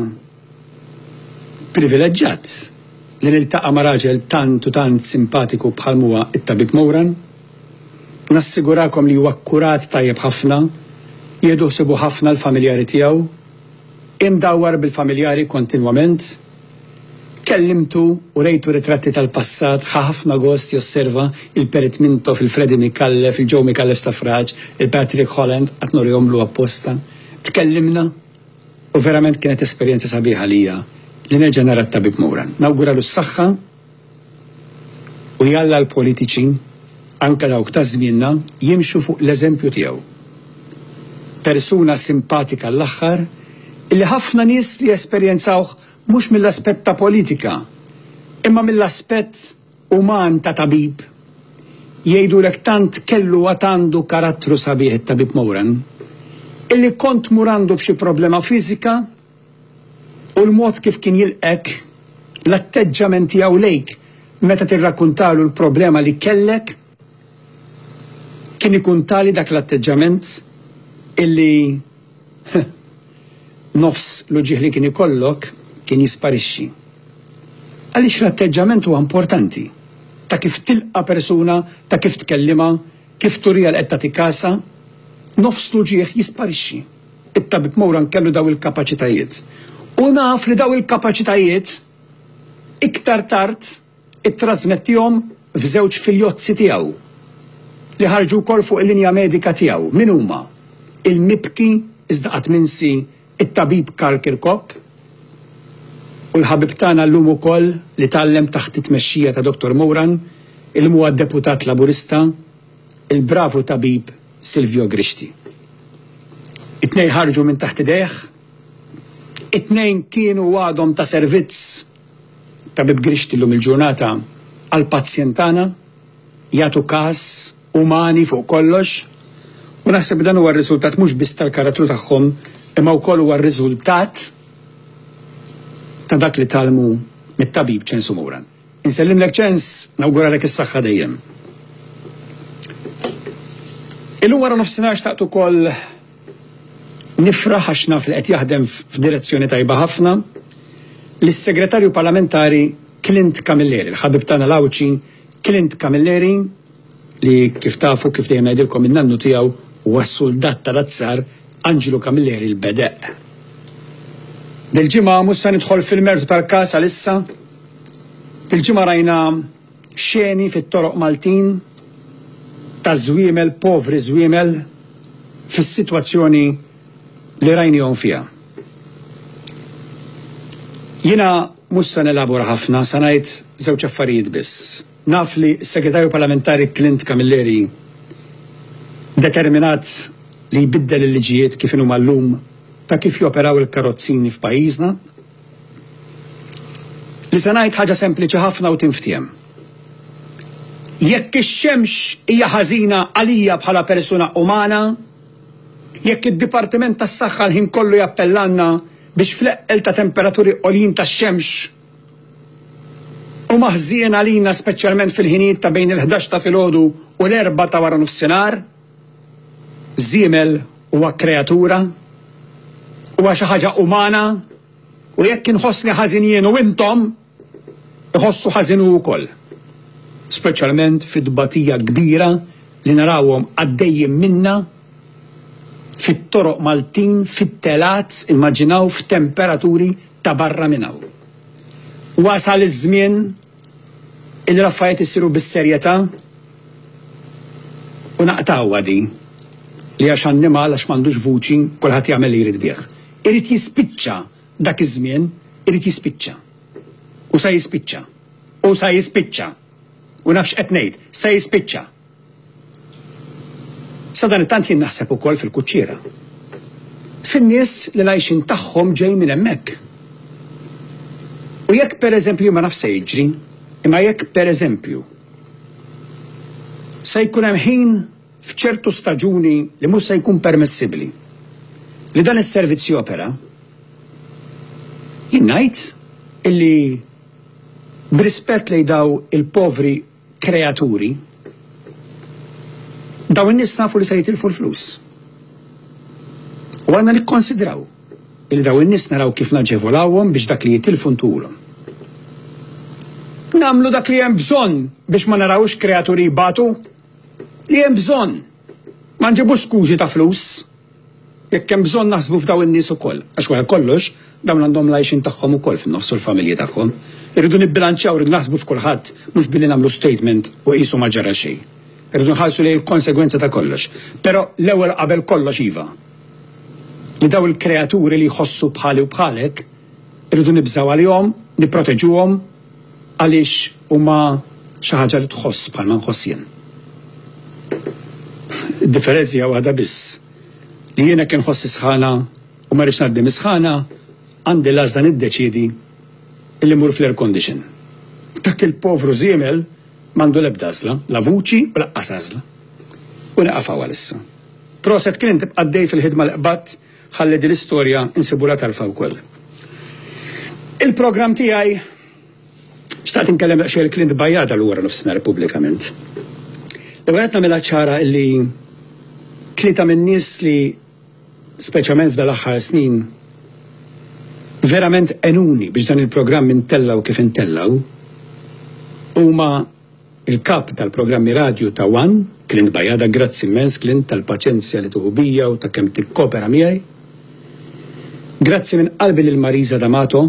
privileġġat li niltaqa' ma' raġel tant u tant simpatiku bħalma huwa t-Tabib Mouran. Nassigurakom li huwa akkurat tajjeb ħafna, jieħdu ħsiebu ħafna l-familjari tiegħu, Imdawwar bil-familjari kontinwament, kellimtu u rejtu ritratti tal-passat ħa ħafna gost josserva il-Perit Mintoff, il-Freddie Micallef, il-Joe Micallef Staffraġ, il-Patrick Holland, qatt nurihomlu apposta. Tkellimna u verament kienet esperjenza sabiħa għalija li nerġa' nara t-Tabib Moran. Nawguralu s-saħħa. U jalla l-politiċi, anke dawk ta' żmienna, jimxu fuq l-eżempju tiegħu. Persuna simpatika l-aħħar illi ħafna nies li jesperjenzawh mhux mill-aspett ta' politika imma mill-aspett uman ta' tabib jgħidulek tant kellu għad għandu karattru sabiħ it-Tabib Moran illi kont tmur għandu b'xi problema fiżika u l-mod kif kien jilqgħek, l-atteġġjament tiegħu lejk meta tirrakkuntalu l-problema li kellek, kien ikun tali dak l-atteġġjament illi nofs l-uġigħ li kien ikollok kien jisparixxi. Għaliex l-atteġġjament huwa importanti, ta' kif tilqa' persuna, ta' kif tkellimha, kif turiha li qed tagħtik kasha, nofs l-uġigħ jisparixxi. It-Tabib Moran kellu dawn il-kapaċitajiet. U naf li dawn il-kapaċitajiet iktar tard ittrażmettihom f'żewġ filjozzi tiegħu li ħarġu wkoll fuq il-linja medika tiegħu. Min huma? Il-mibki iżda qatt minsi It-Tabib Karl Kirkop u l-ħabib tagħna llum ukoll li tgħallem taħt it-tmexxija ta' Dottor Moran, illum huwa Deputat Laburista, il-bravu tabib Silvio Grixti. It-tnejn ħarġu minn taħt idejh, it-tnejn kienu għadhom ta' servizz, Tabib Grixti llum il-ġurnata għall-pazjent tagħna, jagħtu kas, umani fuq kollox, u naħseb dan huwa r-riżultat mhux biss tal-karattru tagħhom imma wkoll huwa r-riżultat ta' dak li tgħallmu mit-tabib Ċensu Moran. Insellimlek ċens, nawguralek is-saħħa dejjem. Illum wara nofsinhar xtaqt ukoll nifraħ għax naf li qed jaħdem f'direzzjoni tajba ħafna lis-Segretarju Parlamentari Clint Camilleri, l-ħabib tagħna l-Għawdxi Clint Camilleri li kif tafu kif dejjem ngħidilkom in-nannu tiegħu huwa s-suldat tal-azzar Anġlu Camilleri l-Bedeqq. Dil-ġimgħa mhux se nidħol fil-mertu tal-każ għalissa, Il-ġimgħa rajna xeni fit-toroq Maltin ta' żwiemel povri żwiemel fis-sitwazzjoni li rajniehom fiha. Jiena mhux se nelabora ħafna, se ngħid żewġ affarijiet biss. Naf li s-Segretarju Parlamentari Clint Camilleri determinat li jbiddel il-liġijiet kif inhuma llum ta' kif joperaw il-karozzini f'pajjiżna, li se ngħid ħaġa sempliċi ħafna u tinftiehem. Jekk ix-xemx hija ħażina għalija bħala persuna umana, jekk id-Dipartiment tas-Saħħa l-ħin kollu jappellalna biex fl-eqqel ta' temperaturi għoljin tax-xemx huma ħżiena għalina speċjalment fil-ħinijiet ta' bejn il-ħdax ta' filgħodu u l-erbgħa ta' waranofsinhar, Żiemel huwa kreatura, huwa xi ħaġa umana u jekk inħossni ħażin jien u intom iħossu ħażin hu wkoll. Speċjalment fit-tbatija kbira li narawhom għaddejjin minnha fit-toroq Maltin, fit-telgħat, immaġinaw f'temperaturi ta' barra minn hawn. Wasal iż-żmien Illi l-affarijiet isiru bis-serjetà u naqtgħuha din li għax annimal, għax m'għandux vuċi, kulħadd jagħmel li jrid bih. Irid jispiċċa dak iż-żmien, irid jispiċċa. U sa jispiċċa. U sa jispiċċa. U naf x'qed ngħid, sa jispiċċa. Sadanittant jien naħseb ukoll fil-kuċċiera. Fin-nies li l-għajxien tagħhom ġej minn hemmhekk. U jekk pereżempju jien ma nafx se jiġri, imma jekk pereżempju se jkun hemm ħin f'ċertu staġuni li mhux se jkun permessibbli li dan is-servizz jopera, jien ngħid illi b'rispett lejn dawn il-povri kreaturi, dawn in-nies nafu li se jitilfu l-flus. U għandna nikkonsidraw li dawn in-nies naraw kif naġevolawhom biex dak li jitilfu ntuhulhom. Nagħmlu dak li hemm bżonn biex ma narawx kreaturi jbatu li hemm bżonn. Ma nġibux skużi ta' flus. Jekk hemm bżonn naħsbu f'dawn in-nies ukoll, għax wara kollox dawn għandhom l-għajxien tagħhom ukoll fin-nofs u l-familji tagħhom. Irridu nibbilanċjaw, irridu naħsbu f'kulħadd mhux billi nagħmlu statement u qisu ma ġara xejn. Irridu nħarsu lejn il-konsegwenza ta' kollox. Però l-ewwel qabel kollox iva, li dawn il-kreaturi li jħossu bħali u bħalek, irridu nibżgħu għalihom, nipproteġuhom, Għaliex huma xi ħaġa li tħoss bħalma nħoss jien. Id-differenzi hija waħda biss, li jien hekk inħoss is-sħana u ma rridx ngħaddi mis-sħana, għandi l-għażla niddeċiedi li mmur fl-air condition. Dak il-povru żiemel m'għandu l-ebda għażla, la vuċi u laqqas għażla. U nieqaf hawn għalissa. Proset Clint, ibqa' għaddej fil-ħidma li qbadt. Ħalli din l-istorja nsibulha tarfa wkoll. Il-programm tiegħi xtaqt inkellem daqsxejn il-Clint Bajada l wara nofsinhar pubblikament. L-ewwel qed nagħmilha ċara li tlieta min-nies li speċjalment f'dan l-aħħar snin verament enuni biex dan il-programm intellgħu kif intellgħu huma Il-Kap tal-Programmi Radju ta' one, Clint Bajada, Grazzi immens, Clint, tal-paċenzja li tieħu bija u ta' kemm tikkopera miegħi. Grazzi minn qalbi lil Marisa D'Amato,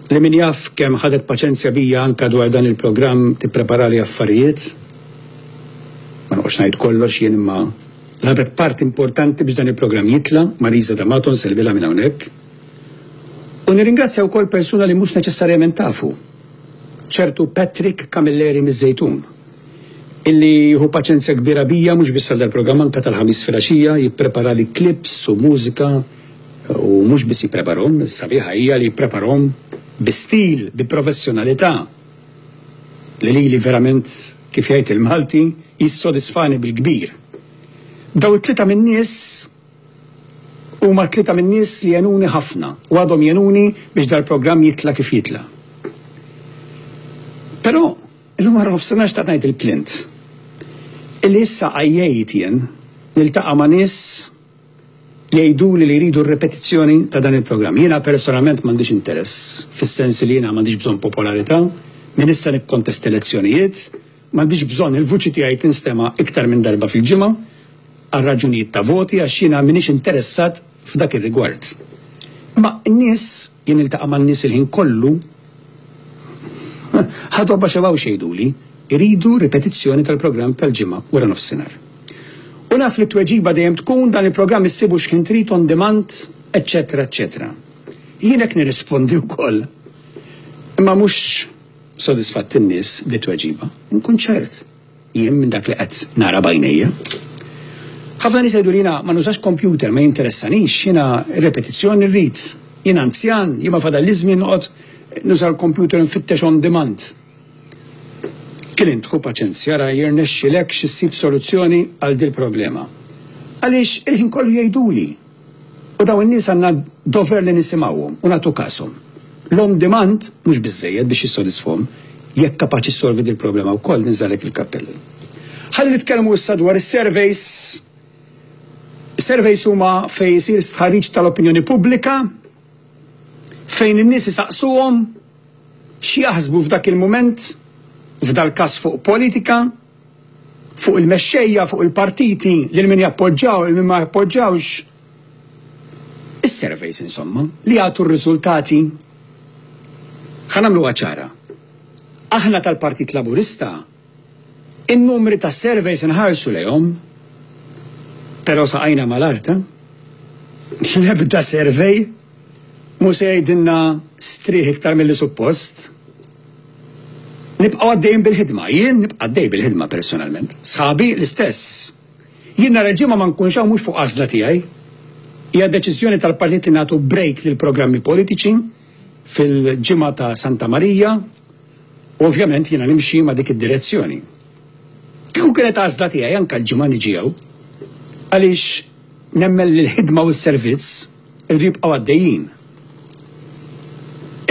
li min jaf kemm ħadet paċenzja bija anke dwar dan il-programm tippreparali affarijiet. Ma noqgħodx ngħid kollox jien imma labet parti importanti biex dan il-programm jitla', Marisa D'Amato nsellmilha minn hawnhekk. U nirringrazzja wkoll persuna li mhux neċessarjament tafu, ċertu Patrick Camilleri miż-Żejtun, illi jieħu paċenzja kbira bija mhux biss għal dal-programm anke tal-Ħamis filgħaxija jippreparali klips u mużika u mhux biss jippreparhom, is-sabiħa hija li jippreparhom bi stil, bi professjonalità li lili verament kif jgħid il-Malti jissodisfani bil-kbir. Dawn it-tlieta min-nies Huma t-tlieta min-nies li għenuni ħafna u għadhom jgħenuni biex dal-programm jitla' kif jitla'. Però, illum wara nofsinhar xtaqt ngħid lil Clint illi issa għajjejt jien niltaqa' ma' nies li jgħiduli li jridu r-ripetizzjoni ta' dan il-programm. Jiena personalment m'għandix interess, fis-sens li jiena m'għandix bżonn popolarità, min issa nikkontesta elezzjonijiet, M'għandix bżonn il-vuċi tiegħi tinstema' iktar minn darba fil-ġimgħa għal raġunijiet ta' voti għax jiena m'iniex interessat f'dak ir-rigward. Imma n-nies, jien niltaqa' man-nies il-ħin kollu, ħadhom ma xebgħux jgħiduli, iridu ripetizzjoni tal-programm tal-Ġimgħa wara nofsinhar. U naf li t-tweġiba dejjem tkun dan il-programm issibu x'ħin trid on demand, eċċetera eċċetera. Jien hekk nirrispondi wkoll. Imma mhux Sodisfatt in-nies bit-tweġiba. Inkun ċert jien minn dak li qed nara b'għajnejja. Ħafna nies jgħidu li jiena ma nużax kompjuter, ma jinteressanix, jiena r-repetizzjoni rrid. Jien anzjan, jien ma fadalli żmien noqgħod nuża l-kompjuter nfittex on demand. Clint, ħu paċenzja, ra jirnexxilek xi ssib soluzzjoni għal dil-problema. Għaliex il-ħin kollu jgħiduli. U dawn in-nies għandna d-dover li nisimgħuhom u nagħtu kashom. L-on demand mhux biżżejjed biex jissodisfhom, jekk kapaċi ssolvi dil-problema wkoll ninżagħlek il-kappell. Ħalli nitkellmu issa dwar is-surveys. Surveys huma fejn isir stħarriġ tal-opinjoni pubblika fejn in-nies isaqsuhom x'jaħsbu f'dak il-mument, f'dal-każ fuq politika, fuq il-mexxejja, fuq il-partiti, lil min jappoġġaw, lil min ma jappoġġawx. Is-surveys insomma, li jagħtu r-riżultati ħa nagħmluha ċara. Aħna tal-Partit Laburista in-numri tas-surveys inħarsu lejhom, però saqajna mal-art, eh? L-ebda survey Mhu se jgħidilna strieħ iktar milli suppost. Nibqgħu għaddejjin bil-ħidma. Jien nibqa' għaddej bil-ħidma personalment. Sħabi l-istess. Jien nhar il-Ġimgħa ma nkunx hawn mhux fuq għażla tiegħi. Hija deċiżjoni tal-Partit li nagħtu break lill-programmi politiċi fil-Ġimgħa ta' Santa Marija u ovvjament jiena nimxi ma' dik id-direzzjoni. Kieku kienet għażla tiegħi anke l-Ġimgħa niġi hawn għaliex nemmen li l-ħidma u s-servizz Iridu jibqgħu għaddejjin.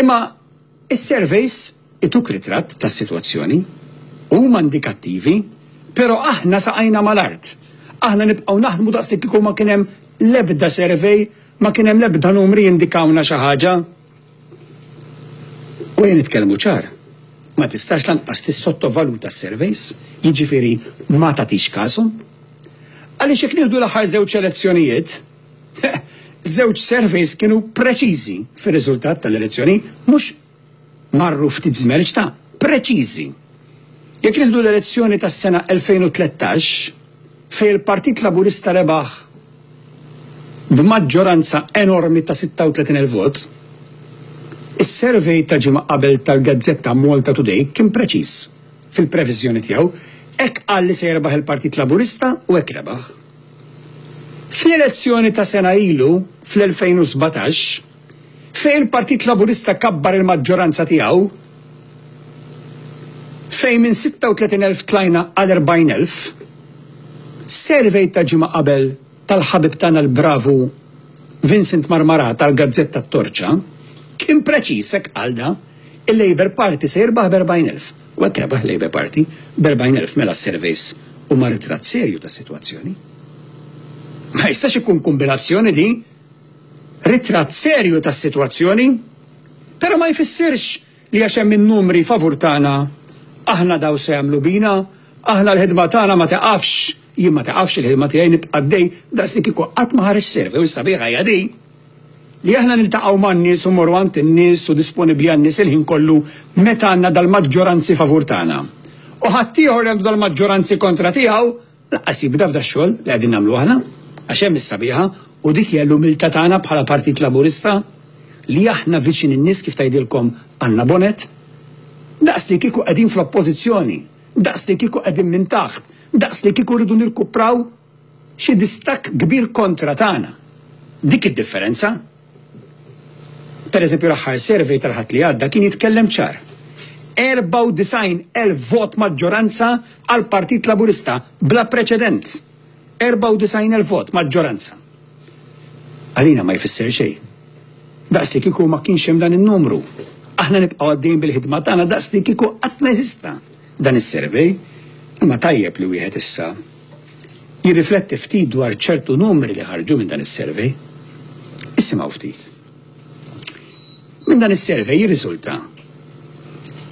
Imma s-surveys ituk ritratt tas-sitwazzjoni. Huma indikattivi, però aħna saqajna mal-art. Aħna nibqgħu naħdmu daqs li kieku ma kien hemm l-ebda survey, ma kien hemm l-ebda numri jindikawna xi ħaġa. U ejja nitkellmu ċar, ma tistax lanqas tissottovaluta s-surveys, jiġifieri ma tagħtix każhom. Għaliex jekk nieħdu l-aħħar żewġ elezzjonijiet, Żewġ surveys kienu preċiżi fir-riżultat tal-elezzjoni, mhux marru ftit żmerġ ta' preċiżi. Jekk nieħdu l-elezzjoni tas-sena 2013, fejn il-Partit Laburista rebaħ b'maġġoranza enormi ta' 36,000 vot, is-survey ta' ġimgħa qabel tal-gazzetta Malta Today kien preċiż fil-previżjoni tiegħu, hekk qal li se jirbaħ il-Partit Laburista u hekk rebaħ. Fl-elezzjoni ta' sena ilu, fl-2017, fejn il-Partit Laburista kabbar il-maġġoranza tiegħu, fejn minn 36 elf tlajna għal 40 elf, survey ta' ġimgħa qabel tal-ħabib tagħna l-bravu Vincent Marmarà tal-gazzetta t-Torċa kien preċiż hekk qal da, il-Labour Party se jirbaħ b' 40 elf. Huwa tebaħ l-Labour Party b'erbgħin elf mela s-surveys huma ritratt serju tas-sitwazzjoni. Ma jistax ikun kumbinazzjoni li ritratt serju tas-sitwazzjoni però ma jfissirx li għax hemm in-numri favur tagħna aħna daw se jagħmlu bina, aħna l-ħidma tagħna ma tiqafx, jien ma tiqafx il-ħidma tiegħi nibqa' għaddej daqslikieku qatt ma ħareġ survey u s-sabiħa hija din. Li aħna niltaqgħu man-nies u mmorru għand in-nies u disponibbli għan-nies il-ħin kollu meta għandna dal-maġġoranzi favur tagħna. U ħaddieħor li għandu dal-maġġoranzi kontra tiegħu lanqas jibda f'dax-xogħol li qegħdin nagħmlu aħna. Għax hemm is-sabiħa, u dik hija l-umiltà tagħna bħala Partit Laburista, li aħna viċin in-nies kif tgħidilkom Anna Bonett. Daqs li kieku qegħdin fl-Oppożizzjoni, daqs li kieku qegħdin minn taħt, daqs li kieku rridu nirkupraw Xi distakk kbir kontra tagħna. Dik id-differenza. Pereżempju l-aħħar survey tal-Ħadd li għadda kien jitkellem ċar. 94 elf vot maġġoranza għall-Partit Laburista bla preċedent. 94 elf vot maġġoranza. Għalina ma jfisser xejn. Daqs li kieku ma kienx hemm dan in-numru. Aħna nibqgħu għaddejjin bil-ħidma tagħna daqs li kieku qatt ma jeżista dan is-survey. Imma tajjeb li wieħed issa jirrifletti ftit dwar ċertu numri li ħarġu minn dan is-survey. Isimgħu ftit. Minn dan is-survey jirriżulta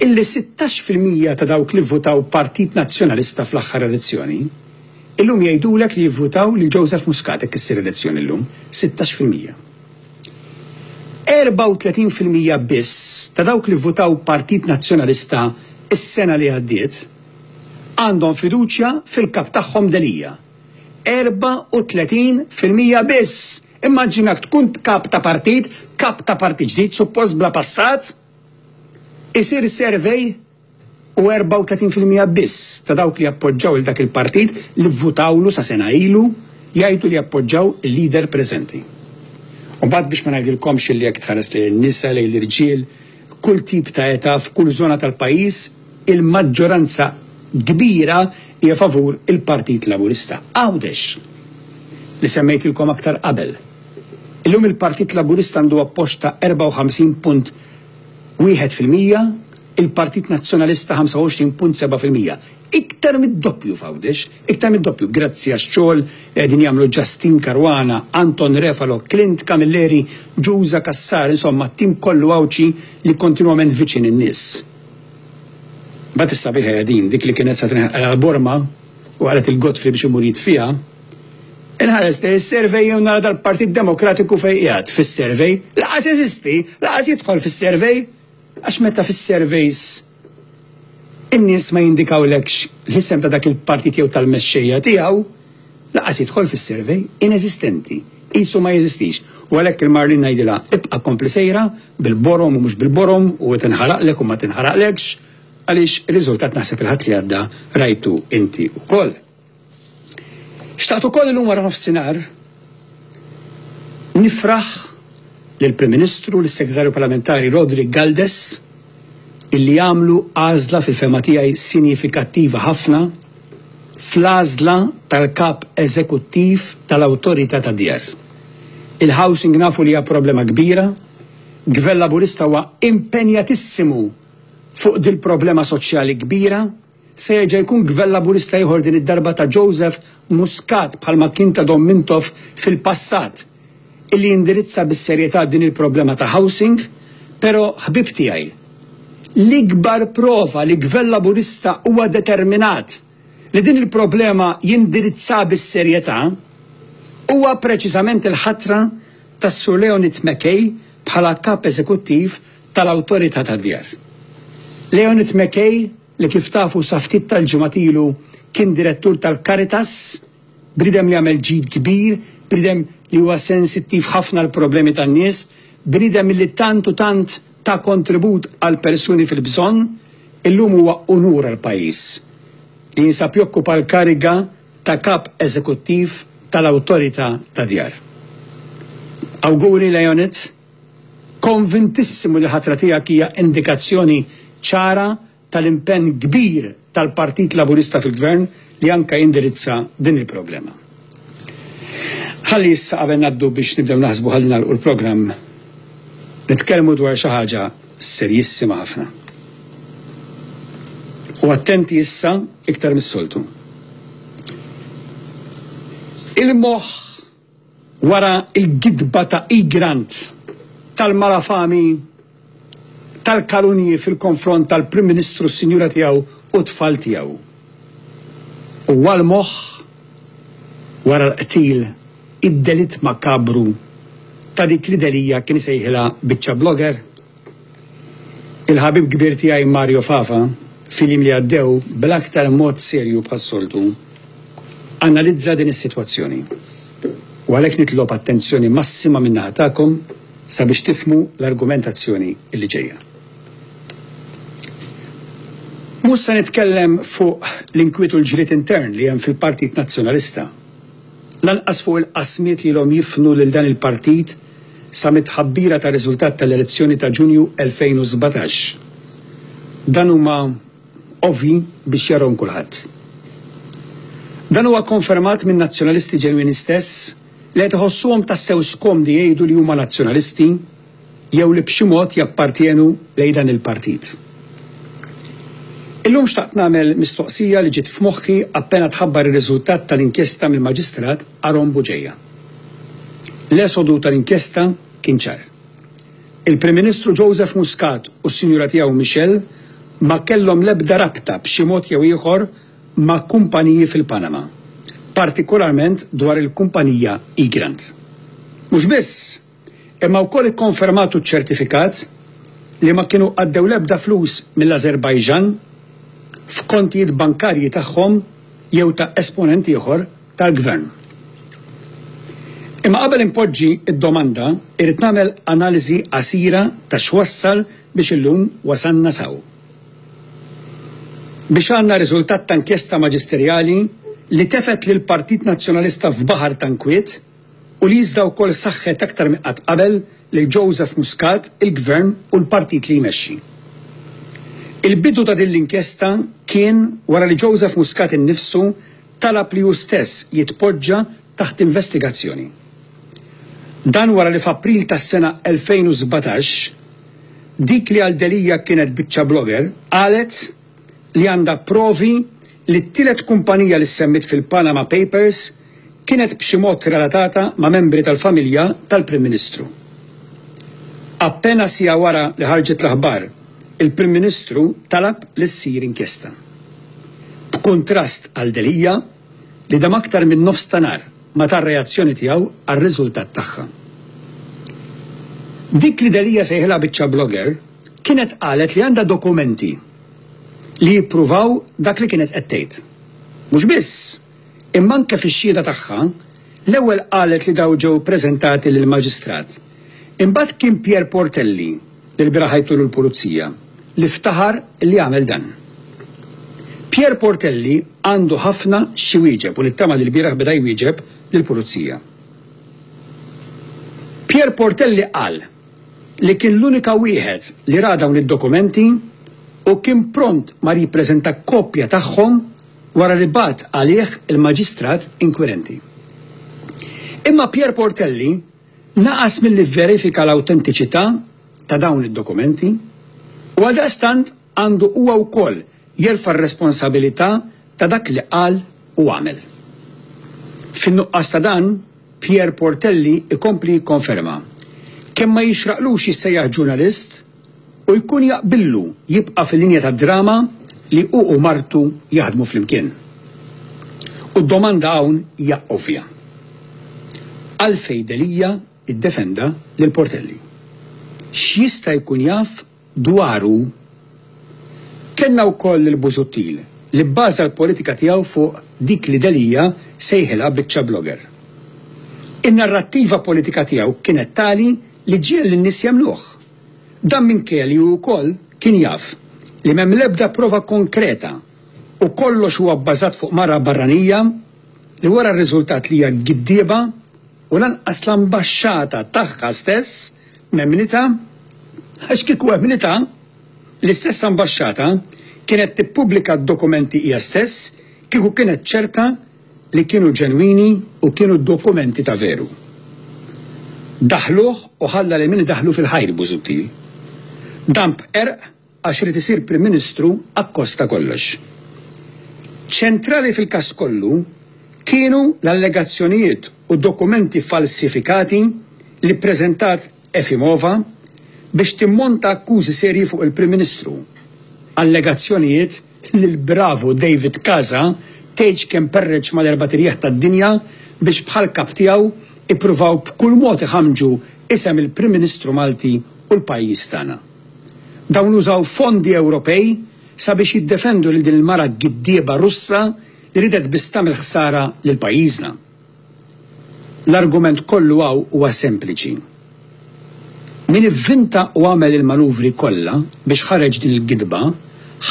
illi 16% ta' dawk li vvutaw Partit Nazzjonalista fl-aħħar elezzjoni illum jgħidulek li jivvutaw lil Joseph Muscat hekk issir elezzjoni llum, 16%. 34% biss ta' dawk li vvutaw Partit Nazzjonalista s-sena li għaddiet għandhom fiduċja fil-Kap tagħhom Delia. 34 fil-mija biss! Immaġina jekk tkun Kap ta' Partit, Kap ta' Partit ġdid, suppost bla passat, isir survey u 34 fil-mija biss ta' dawk li jappoġġaw lil dak il-Partit li vvutawlu sa sena ilu jgħidu li jappoġġaw il-Leader preżenti. U mbagħad biex ma ngħidilkomx li jekk tħares lejn in-nisa, lejn l-irġiel, kull tip ta' età, f'kull żona tal-pajjiż, il-maġġoranza kbira hija favur il-Partit Laburista. Għawdex, li semmejtilkom aktar qabel. Illum il-Partit Laburista għandu appoġġ ta' 54.1 fil-mija, il-Partit Nazzjonalista 25.7 fil-mija. Iktar mid-doppju f'Għawdex, iktar mid-doppju grazzi għax-xogħol li qegħdin jagħmlu Justin Caruana, Anton Refalo, Clint Camilleri, Giusa Cassar, insomma t-tim kollu Għawdxi li kontinwament viċin in-nies. Imbagħad is-sabiħa hija din, dik li kienet se tinħaqal għall-Borma u qalet lil Godfrey biex imur jitfiha, Inħares lejn is-survey u nara dal-Partit Demokratiku fejn qiegħed fis-survey. Lanqas jeżisti, lanqas jidħol fis-survey! Għax meta fis-surveys in-nies ma jindikawlekx l-isem ta' dak il-partit jew tal-mexxejja tiegħu, lanqas jidħol fis-survey, ineżistenti, qisu ma jeżistix. U għalhekk lil Marlene ngħidilha, ibqa' kompli sejra, bil-borom u mhux bil-borom, u tinħaraqlek u ma tinħaraqlekx, għaliex ir-riżultat naħseb il-Ħadd li għadda rajtu inti wkoll. Xtaqt ukoll illum wara nofsinhar nifraħ lill-Prim Ministru u lis-Segretarju Parlamentari Roderick Galdes illi għamlu għażla fil-fehma tiegħi sinjifikattiva ħafna fl-għażla tal-Kap Eżekuttiv tal-Awtorità tad-Djar. Il-housing nafu li hija problema kbira, Gvern Laburista huwa impenjatissimu fuq dil-problema soċjali kbira, Se jerġa' jkun Gvern Laburista ieħor din id-darba ta' Joseph Muscat bħalma kien ta' Dom Mintoff fil-passat illi jindirizza bis-serjetà din il-problema ta' housing, pero' ħbieb tiegħi, l-ikbar prova li Gvern Laburista huwa determinat li din il-problema jindirizzaha bis-serjetà huwa preċiżament il-ħatra tas-Sur Leonid McKay bħala Kap Eżekuttiv tal-Awtorità tad-Djar. Leonid McKay, li kif tafu sa ftit tal-ġimgħat ilu kien Direttur tal-Caritas, bniedem li għamel ġid kbir, bniedem li huwa sensittiv ħafna għall-problemi tan-nies, bniedem li tant u tant ta kontribut għall-persuni fil-bżonn, illum huwa unur għall-pajjiż li jinsab jokkupa l-kariga ta' Kap Eżekuttiv tal-Awtorità tad-Djar. Awguri Leonid, konvintissimu li ħatra tiegħek hija indikazzjoni ċara tal-impenn kbir tal-Partit Laburista fil-Gvern li anke jindirizza din il-problema. Ħalli issa qabel ngħaddu biex nibdew naħsbu ħalli nagħlqu l-programm nitkellmu dwar xi ħaġa serjissima ħafna. U attenti issa iktar mis-soltu. Il-moħħ wara l-gidba ta' Egrant tal-malafami tal-kalunji fil-konfront tal-Prim Ministru, s-sinjura tiegħu u t-tfal tiegħu. u għal moħħ wara l-qtil id-delitt makabru ta' dik li Delia kien isejħilha biċċa blogger? Il-ħabib kbir tiegħi Mario Fafa fil-jiem li għaddew bl-aktar mod serju bħas-soltu analizza din is-sitwazzjoni u għalhekk nitlob attenzjoni massima min-naħa tagħkom sabiex tifhmu l-argumentazzjoni li ġejja. Mhux se nitkellem fuq l-inkwiet u l-ġlied intern li hemm fil-Partit Nazzjonalista. Lanqas fuq il-qasmiet li ilhom jifnu lil dan il-partit sa mit-tħabbira tar-riżultat tal-elezzjoni ta' Ġunju 2017. Dan huma ovvji biex jarahom kulħadd. Dan huwa kkonfermat min-Nazzjonalisti ġenwini stess li qed iħossuhom tassew skomdi jgħidu li huma Nazzjonalisti, jew li b'xi mod jappartjenu lejn dan il-partit. Illum xtaqt nagħmel mistoqsija li ġiet f'moħħi appena tħabbar ir-riżultat tal-inkjesta mill-Maġistrat Aaron Bugeja. L-esodu tal-inkjesta kien ċar. Il-Prim Ministru Joseph Muscat u s-sinjura tiegħu Michelle ma kellhom l-ebda rabta b'xi mod jew ieħor ma' kumpaniji fil-Panama, partikolarment dwar il-kumpanija Egrant. Mhux biss! imma wkoll ikkonfermat u ċċertifikat li ma kienu għaddew l-ebda flus mill-Ażerbajġan f'kontijiet bankarji tagħhom jew ta' esponent ieħor tal-Gvern. Imma qabel inpoġġi d-domanda, irrid nagħmel analiżi qasira ta' x'wassal biex illum wasalna s'hawn. Biex għandna riżultat ta' inkjesta maġisterjali li tefgħet lill-Partit Nazzjonalista f'baħar ta' nkwiet, u li iżda wkoll saħħet aktar minn qatt qabel lil Joseph Muscat, il-Gvern u l-Partit li jmexxi. Il-bidu ta' din l-inkjesta kien wara li Joseph Muscat innifsu talab li hu stess jitpoġġa taħt investigazzjoni. Dan wara li f'April tas-sena 2017, dik li għal Delia kienet biċċa blogger qalet, li għandha provi li t-tielet kumpanija li ssemmiet fil-Panama Papers kienet b'xi mod relatata ma' membri tal-familja tal-Prim Ministru. Appena siegħa wara li ħarġet l-aħbar, il-Prim Ministru talab li ssir inkjesta. B'kuntrast għal Delia, li dam aktar minn nofs ta' nhar ma ta r-reazzjoni tiegħu għar-riżultat tagħha. Dik li Delia sejħilha biċċa blogger, Kienet qalet li għandha dokumenti li jippruvaw dak li kienet qed tgħid. Mhux biss, imma anke fix-xhieda tagħha, l-ewwel qalet li dawn ġew ippreżentati lill-Maġistrat. Imbagħad kien Pierre Portelli, li lbieraħ għidtulu l-Pulizija, li ftaħar li għamel dan. Pierre Portelli għandu ħafna x'iwieġeb u nittama li lbieraħ beda jwieġeb lill-Pulizija. Pierre Portelli qal. li kien l-unika wieħed li ra dawn id-dokumenti u kien pront mar jippreżenta kopja tagħhom wara li bagħat għalih il-Maġistrat inkwirenti. Imma Pierre Portelli naqas milli vverifika l-awtentiċità ta' dawn id-dokumenti u għaldaqstant, għandu huwa wkoll jerfa' r-responsabilità ta' dak li qal u għamel. Fin-nuqqas ta' dan, Pierre Portelli jkompli jikkonferma, kemm ma jixraqlux jissejjaħ ġurnalist u jkun jaqbillu jibqa' fil-linja tad-drama li hu u martu jaħdmu flimkien. U d-domanda hawn hija ovvja. Għalfejn Delia ddefenda lil Portelli? X'jista' jkun jaf Dwaru, kellna wkoll lil Busuttil, li bbaża l-politika tiegħu fuq dik li Delia sejħilha biċċa blogger. In-narrattiva politika tiegħu kienet tali li ġiegħel lin-nies jemmnuh. Dan minkejja li hu wkoll kien jaf li m'hemm l-ebda prova konkreta u kollox huwa bbażat fuq mara barranija li wara r-riżultat li hija giddieba u lanqas l-ambaxxata tagħha stess m'emmnitha għax kieku emmnitha, l-istess ambaxxata kienet tippubblika d-dokumenti hija stess kieku kienet ċerta li kienu ġenwini u kienu dokumenti ta' veru. Daħħluh u ħalla lil min idaħħlu fil-ħajr Busuttil. Dan b'qerq Għax irid isir Prim Ministru akkost ta' kollox. Ċentrali fil-każ kollu kienu l-allegazzjonijiet u dokumenti falsifikati li ppreżentat Efimova biex timmonta akkużi serji fuq il-Prim Ministru, allegazzjonijiet li l-bravu David Casa tgħidx kemm perreġ mal-erbat irjieħ tad-dinja biex bħal kap tiegħu ippruvaw b'kull mod iħammġu isem il-Prim Ministru Malti u l-pajjiż tagħna. Dawn użaw fondi Ewropej sabiex jiddefendu lil din il-mara giddieba Russa li ridet biss tagħmel ħsara lil pajjiżna. L-argument kollu hawn huwa sempliċi. Min ivvinta u għamel il-manuvri kollha biex ħareġ din il-gidba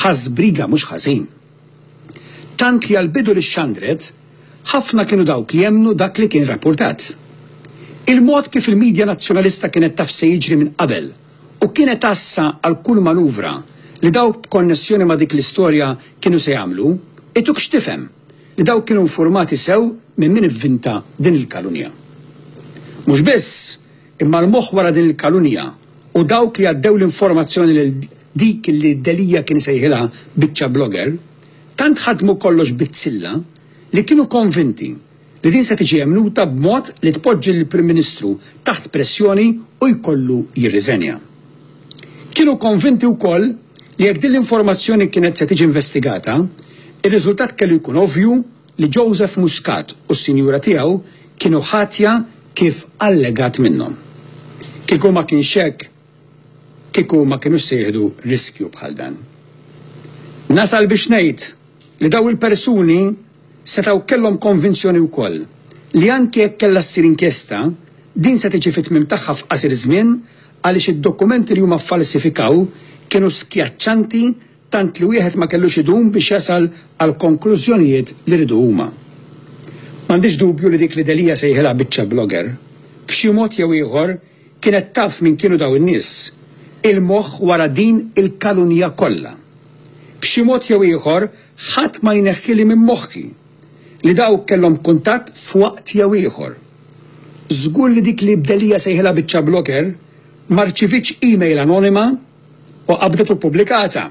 ħa żbriga mhux ħażin. Tant li għall-bidu li xxandret, ħafna kienu dawk li emmnu dak li kien rappurtat. Il-mod kif il-midja Nazzjonalista kienet taf se jiġri minn qabel U kienet għassa għal kull manuvra li dawk b'konnessjoni ma' dik l-istorja kienu se jagħmlu, ituk x'tifhem li dawk kienu infurmati sew minn min ivvinta din il-kalunja. Mhux biss, imma l-moħħ wara din il-kalunja u dawk li għaddew l-informazzjoni lil dik li Delia kien isejħilha biċċa blogger, tant ħadmu kollox bizzilla li kienu konvinti, li din se tiġi għemluta b'mod li tpoġġi lill-Prim Ministru taħt pressjoni u jkollu jirriżenja. Kienu konvinti wkoll li jekk din l-informazzjoni kienet se tiġi investigata, ir-riżultat kellu jkun ovvju li Joseph Muscat u s-sinjura tiegħu kienu ħatja kif allegat minnhom. Kieku ma kienx hekk, kieku ma kienux se jieħdu riskju bħal dan. Nasal biex ngħid li dawn il-persuni setgħu kellhom konvinzjoni wkoll li anki jekk kellha ssir inkjesta, din se tiġi fit-tmiem tagħha f'qasir żmien għaliex id-dokumenti li huma ffalsifikaw kienu skjaċċanti tant li wieħed ma kellux idum biex jasal għall-konklużjonijiet li riedu huma. M'għandix dubju li dik li Delia sejħilha biċċa blogger, b'xi mod jew ieħor, Kienet taf min kienu dawn in-nies, il-moħħ wara din il-kalunja kollha. B'xi mod jew ieħor ħadd ma jneħħili minn moħħi li dawk kellhom kuntatt f'waqt jew ieħor. Żgur li dik li Delia sejħilha biċċa blocker ma rċivietx email anonima u qabdet u ppubblikatha.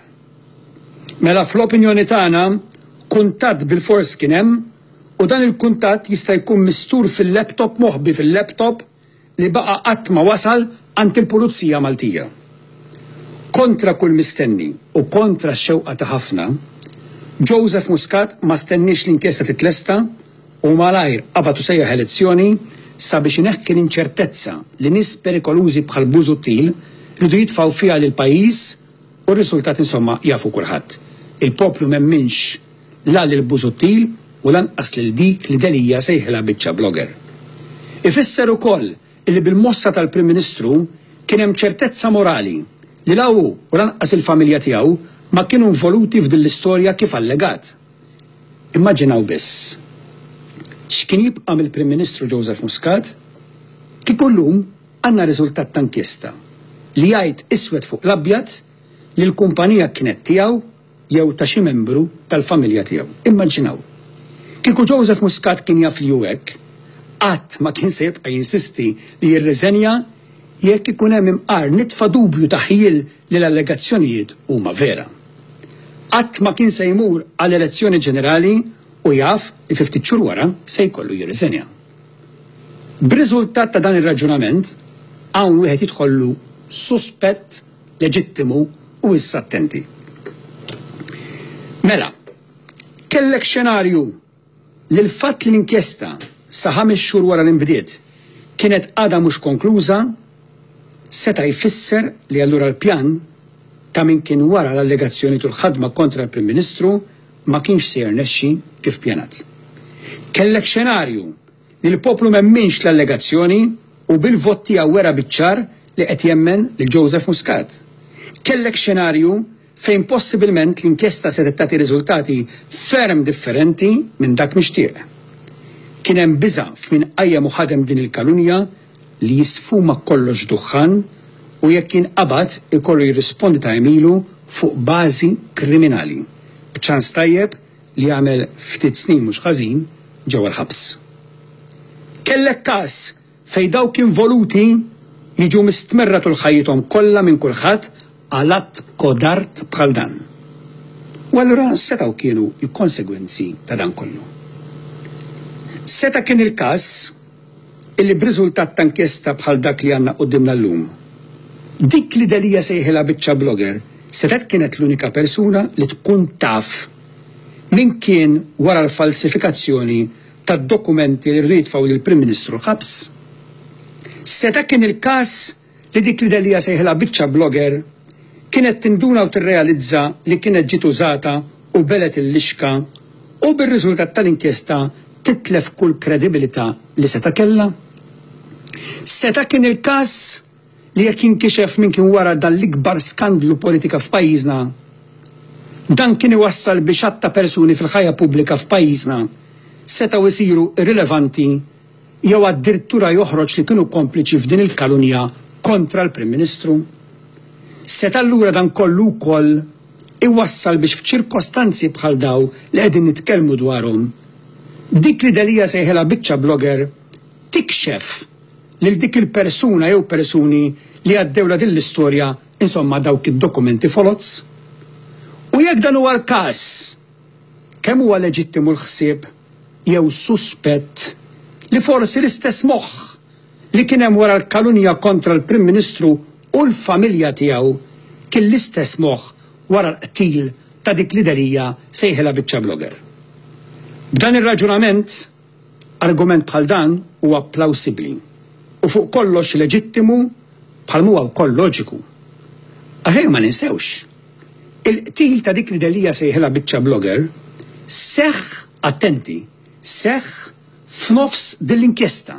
Mela fl-opinjoni tagħna kuntatt bilfors kien hemm u dan il-kuntatt jista' jkun mistur fil-laptop moħbi fil-laptop li baqa' qatt ma wasal għand il-Pulizija Maltija. Kontra kull mistenni u kontra x-xewqa ta' ħafna, Joseph Muscat ma stenniex l-inkjesta titlesta u malajr qabad u sejjaħ elezzjoni sabiex ineħħi l-inċertezza li nies perikolużi bħal Busuttil riedu jitfgħu fiha lill-pajjiż u r-risultat insomma jafu kulħadd. Il-poplu m'emminx la lil Busuttil u lanqas lil dik li Delia sejħilha biċċa blogger. Ifisser ukoll illi bil-mossa tal-Prim Ministru kien hemm ċertezza morali li la hu u lanqas il-familja tiegħu ma kienu involuti f'din l-istorja kif allegat. Immaġinaw biss x'kien jibqa' mill-Prim Ministru Joseph Muscat kieku llum għandna riżultat ta' inkjesta li jgħid iswed fuq l-abjad li l-kumpanija kienet tiegħu jew ta' xi membru tal-familja tiegħu. Immaġinaw! Kieku Joseph Muscat kien jaf li hu hekk, qatt ma kien se jibqa' jinsisti li jirriżenja jekk ikun hemm imqar nitfa' dubju ta' ħjiel li l-allegazzjonijiet huma vera. Qatt ma kien se jmur għal elezzjoni ġenerali u jaf li fi ftit xhur wara se jkollu jirriżenja. B'riżultat ta' dan ir-raġunament, hawn wieħed jidħollu suspett leġittimu u issa attenti. Mela, kellek xenarju li l-fatt li l-inkjesta sa ħames xhur wara li nbdiet kienet għadha mhux konkluża seta' jfisser li allura l-pjan ta' min kien wara l-allegazzjonijiet u l-ħadma kontra l-Prim Ministru ma kienx se jirnexxi kif pjanat. Kellek xenarju li l-poplu m'emminx l-allegazzjoni u bil-vot tiegħu wera biċ-ċar li qed jemmen lil Joseph Muscat. Kellek xenarju fejn possibilment l-inkjesta setgħet tagħti riżultati ferm differenti minn dak mixtieq. Kien hemm biża' f'min qajjem u ħadem din il-kalunja li jisfuma kollox duħħan u jekk jinqabad ikollu jirrispondi ta' għemilu fuq bażi kriminali, b'ċans tajjeb li għamel ftit snin mhux ħażin ġewwa l-ħabs. Kellek każ fejn dawk involuti jiġu mistmerra tul ħajjithom kollha minn kulħadd għal att kodard bħal dan. U allura setgħu kienu l-konsegwenzi ta' dan kollu? Seta' kien il-każ illi b'riżultat ta' inkjesta bħal dak li għandna quddiemna llum, dik li Delia sejħilha biċċa blogger setgħet kienet l-unika persuna li tkun taf min kien wara l-falsifikazzjoni tad-dokumenti li rridu jitfgħu lill-Prim Ministru ħabs? Seta' kien il-każ li dik li Delia sejħilha biċċa blogger kienet tinduna u tirrealizza li kienet ġiet użata u belgħet il-lixka u bir-riżultat tal-inkjesta titlef kull kredibilità li seta' kellha? Seta' kien il-każ li jekk jinkixef min kien wara dan l-ikbar skandlu politika f'pajjiżna, dan kien iwassal biex għadd ta' persuni fil-ħajja pubblika f'pajjiżna setgħu jsiru irrilevanti jew addirtura joħroġ li kienu kompliċi f'din il-kalunja kontra l-Prim Ministru? Seta' allura dan kollu wkoll iwassal biex f'ċirkostanzi bħal daw li qegħdin nitkellmu dwarhom, dik li Delia sejħilha biċċa blogger tikxef lil dik il-persuna jew persuni li għaddewlha din l-istorja, insomma dawk id-dokumenti foloz? U jekk dan huwa l-każ, Kemm huwa leġittimu l-ħsieb jew suspett li forsi l-istess moħħ li kien hemm wara l-kalunja kontra l-Prim Ministru u l-familja tiegħu kien l-istess moħħ wara l-qtil ta' dik li Delia sejħilha biċċa blogger. B'dan ir-raġunament, Argument bħal dan huwa plawsibbli u fuq kollox leġittimu bħal m'huwa wkoll loġiku. Aħjar ma ninsewx, il-qtil ta' dik li Delia sejħilha biċċa blogger seħħ, attenti, seħħ f'nofs din l-inkjesta.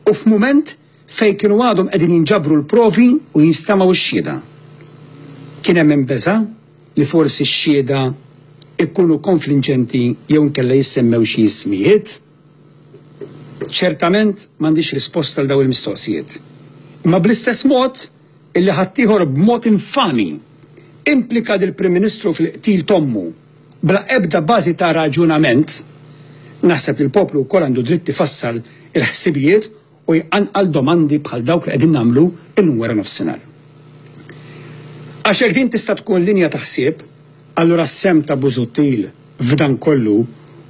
u f'mument fejn kienu għadhom qegħdin jinġabru l-provi u jinstemgħu x-xhieda. Kien hemm min beża' li forsi x-xhieda jkunu konflinġenti jew inkella jissemmew xi ismijiet. Ċertament m'għandix risposta għal dawn il-mistoqsijiet. Imma bl-istess mod, illi ħaddieħor b'mod infami implika lill-Prim Ministru fil-qtil t'ommu bla ebda bażi ta' raġunament, naħseb li l-poplu wkoll għandu dritt ifassal il-ħsibijiet u jqanqal domandi bħal dawk li qegħdin nagħmlu illum wara nofsinhar. Għax jekk din tista' tkun linja ta' ħsieb, allura s-sehem ta' Busuttil f'dan kollu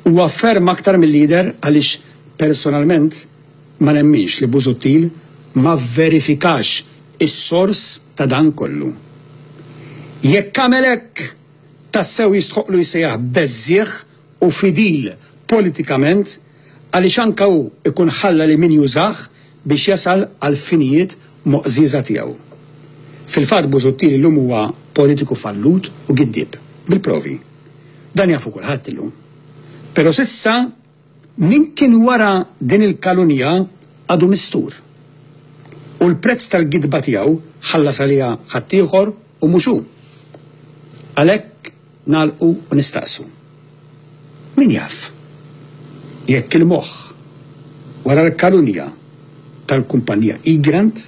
huwa ferm aktar milli jidher għaliex personalment, Ma nemminx li Busuttil ma vverifikax is-sors ta' dan kollu. Jekk għamel hekk, tassew jistħoqqlu jsejjaħ beżżiegħ u fidil politikament għaliex anke hu jkun ħalla lil min jużah biex jasal għall-finijiet moqżieża tiegħu. Fil-fatt Busuttil illum huwa politiku fallut u giddieb, bil-provi. Dan jafu kulħadd illum. Pero s'issa, Min kien wara din il-kalunja għadu mistur, u l-prezz tal-gidba tiegħu ħallas għaliha ħaddieħor u mhux hu. Għalhekk nagħlqu u nistaqsu, Min jaf jekk il-moħħ wara l-kalunja tal-kumpannija Egrant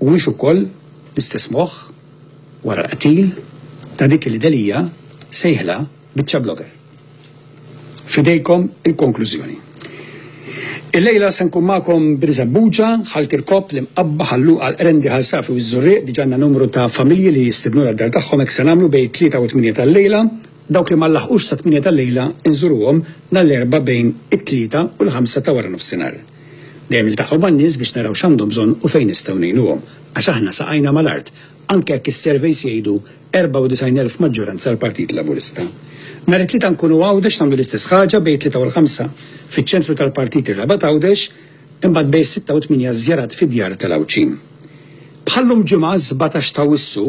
huwiex ukoll l-istess moħħ wara l-qtil ta' dik li Delia sejħilha Biċċa blogger. F'idejkom il-konklużjoni. Illejla se nkun magħkom b'Riżebbuġa, Ħal Kirkop, l-Imqabba, Ħal Luqa, l-Qrendi, Ħal Safi u ż-Żurrieq. Diġà għandna numru ta' familji li jistidnuna d-dar tagħhom hekk se nagħmlu bejn it-tlieta u t-tmienja tal-lejla. Dawk li ma nlaħqux sat-tmienja tal-lejla nżuruhom nhar l-Erbgħa bejn it-tlieta u l-ħamsa ta' wara nofsinhar. Dejjem niltaqgħu man-nies biex naraw x'għandhom bżonn u fejn nistgħu ngħinuhom. Għax aħna saqajna mal-art, anke jekk is-surveys jgħidu 94 elf maġġoranza għall-Partit Laburista. Nhar it-Tlieta nkunu Għawdex nagħmlu l-istess ħaġa bejn it-Tlieta u l-Ħamsa fiċ-ċentru tal-Partit ir-Rabat Għawdex, imbagħad bejn is-Sitta u t-Tmienja żjarat fid-djar tal-Għawdxin. Bħal-lum ġimgħa s-Sbatax t'Awwissu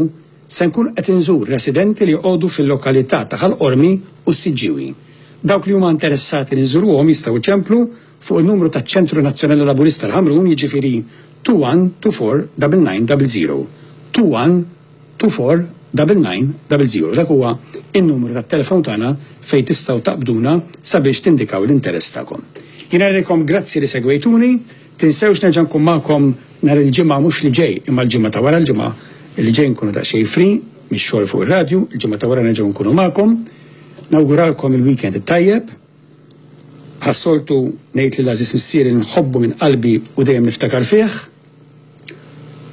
se nkun qed inżur residenti li joqogħdu fil-lokalità ta' Ħal Qormi u s-Siġġiewi. Dawk li huma interessati li nżuruhom jistgħu jċemplu fuq in-numru taċ-Ċentru Nazzjonali Laburista l-Ħamrun jiġifieri 2124 9900, 21 24990, dak huwa n-numru tat-telefon tagħna fejn tistgħu taqbduna sabiex tindikaw l-interess tagħkom. Jien ngħidilkom grazzi li segwejtuni, tinsewx nerġa' nkun magħkom nhar il-Ġimgħa mhux li ġej imma l-Ġimgħa ta' wara l-Ġimgħa li ġej nkunu daqsxejn free mix-xogħol fuq ir-radju, il-Ġimgħa ta' wara nerġgħu nkunu magħkom. Nawguralkom il-weekend it-tajjeb. Bħas-soltu ngħid li l-għażiż missieri nħobbu minn qalbi u dejjem niftakar fih.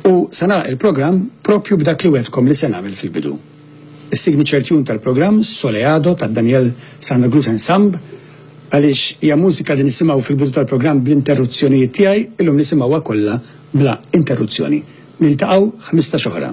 U se nagħlaq il-programm propju b'dak li wegħdtkom li se nagħmel fil-bidu. Is-signature tune tal-programm Soleado ta' Daniel Santa Cruz Ensemb għaliex hija mużika li nisimgħu fil-bidu tal-programm bl-interruzzjonijiet tiegħi illum nisimgħuha kollha bla interruzzjoni. Niltaqgħu 15 oħra.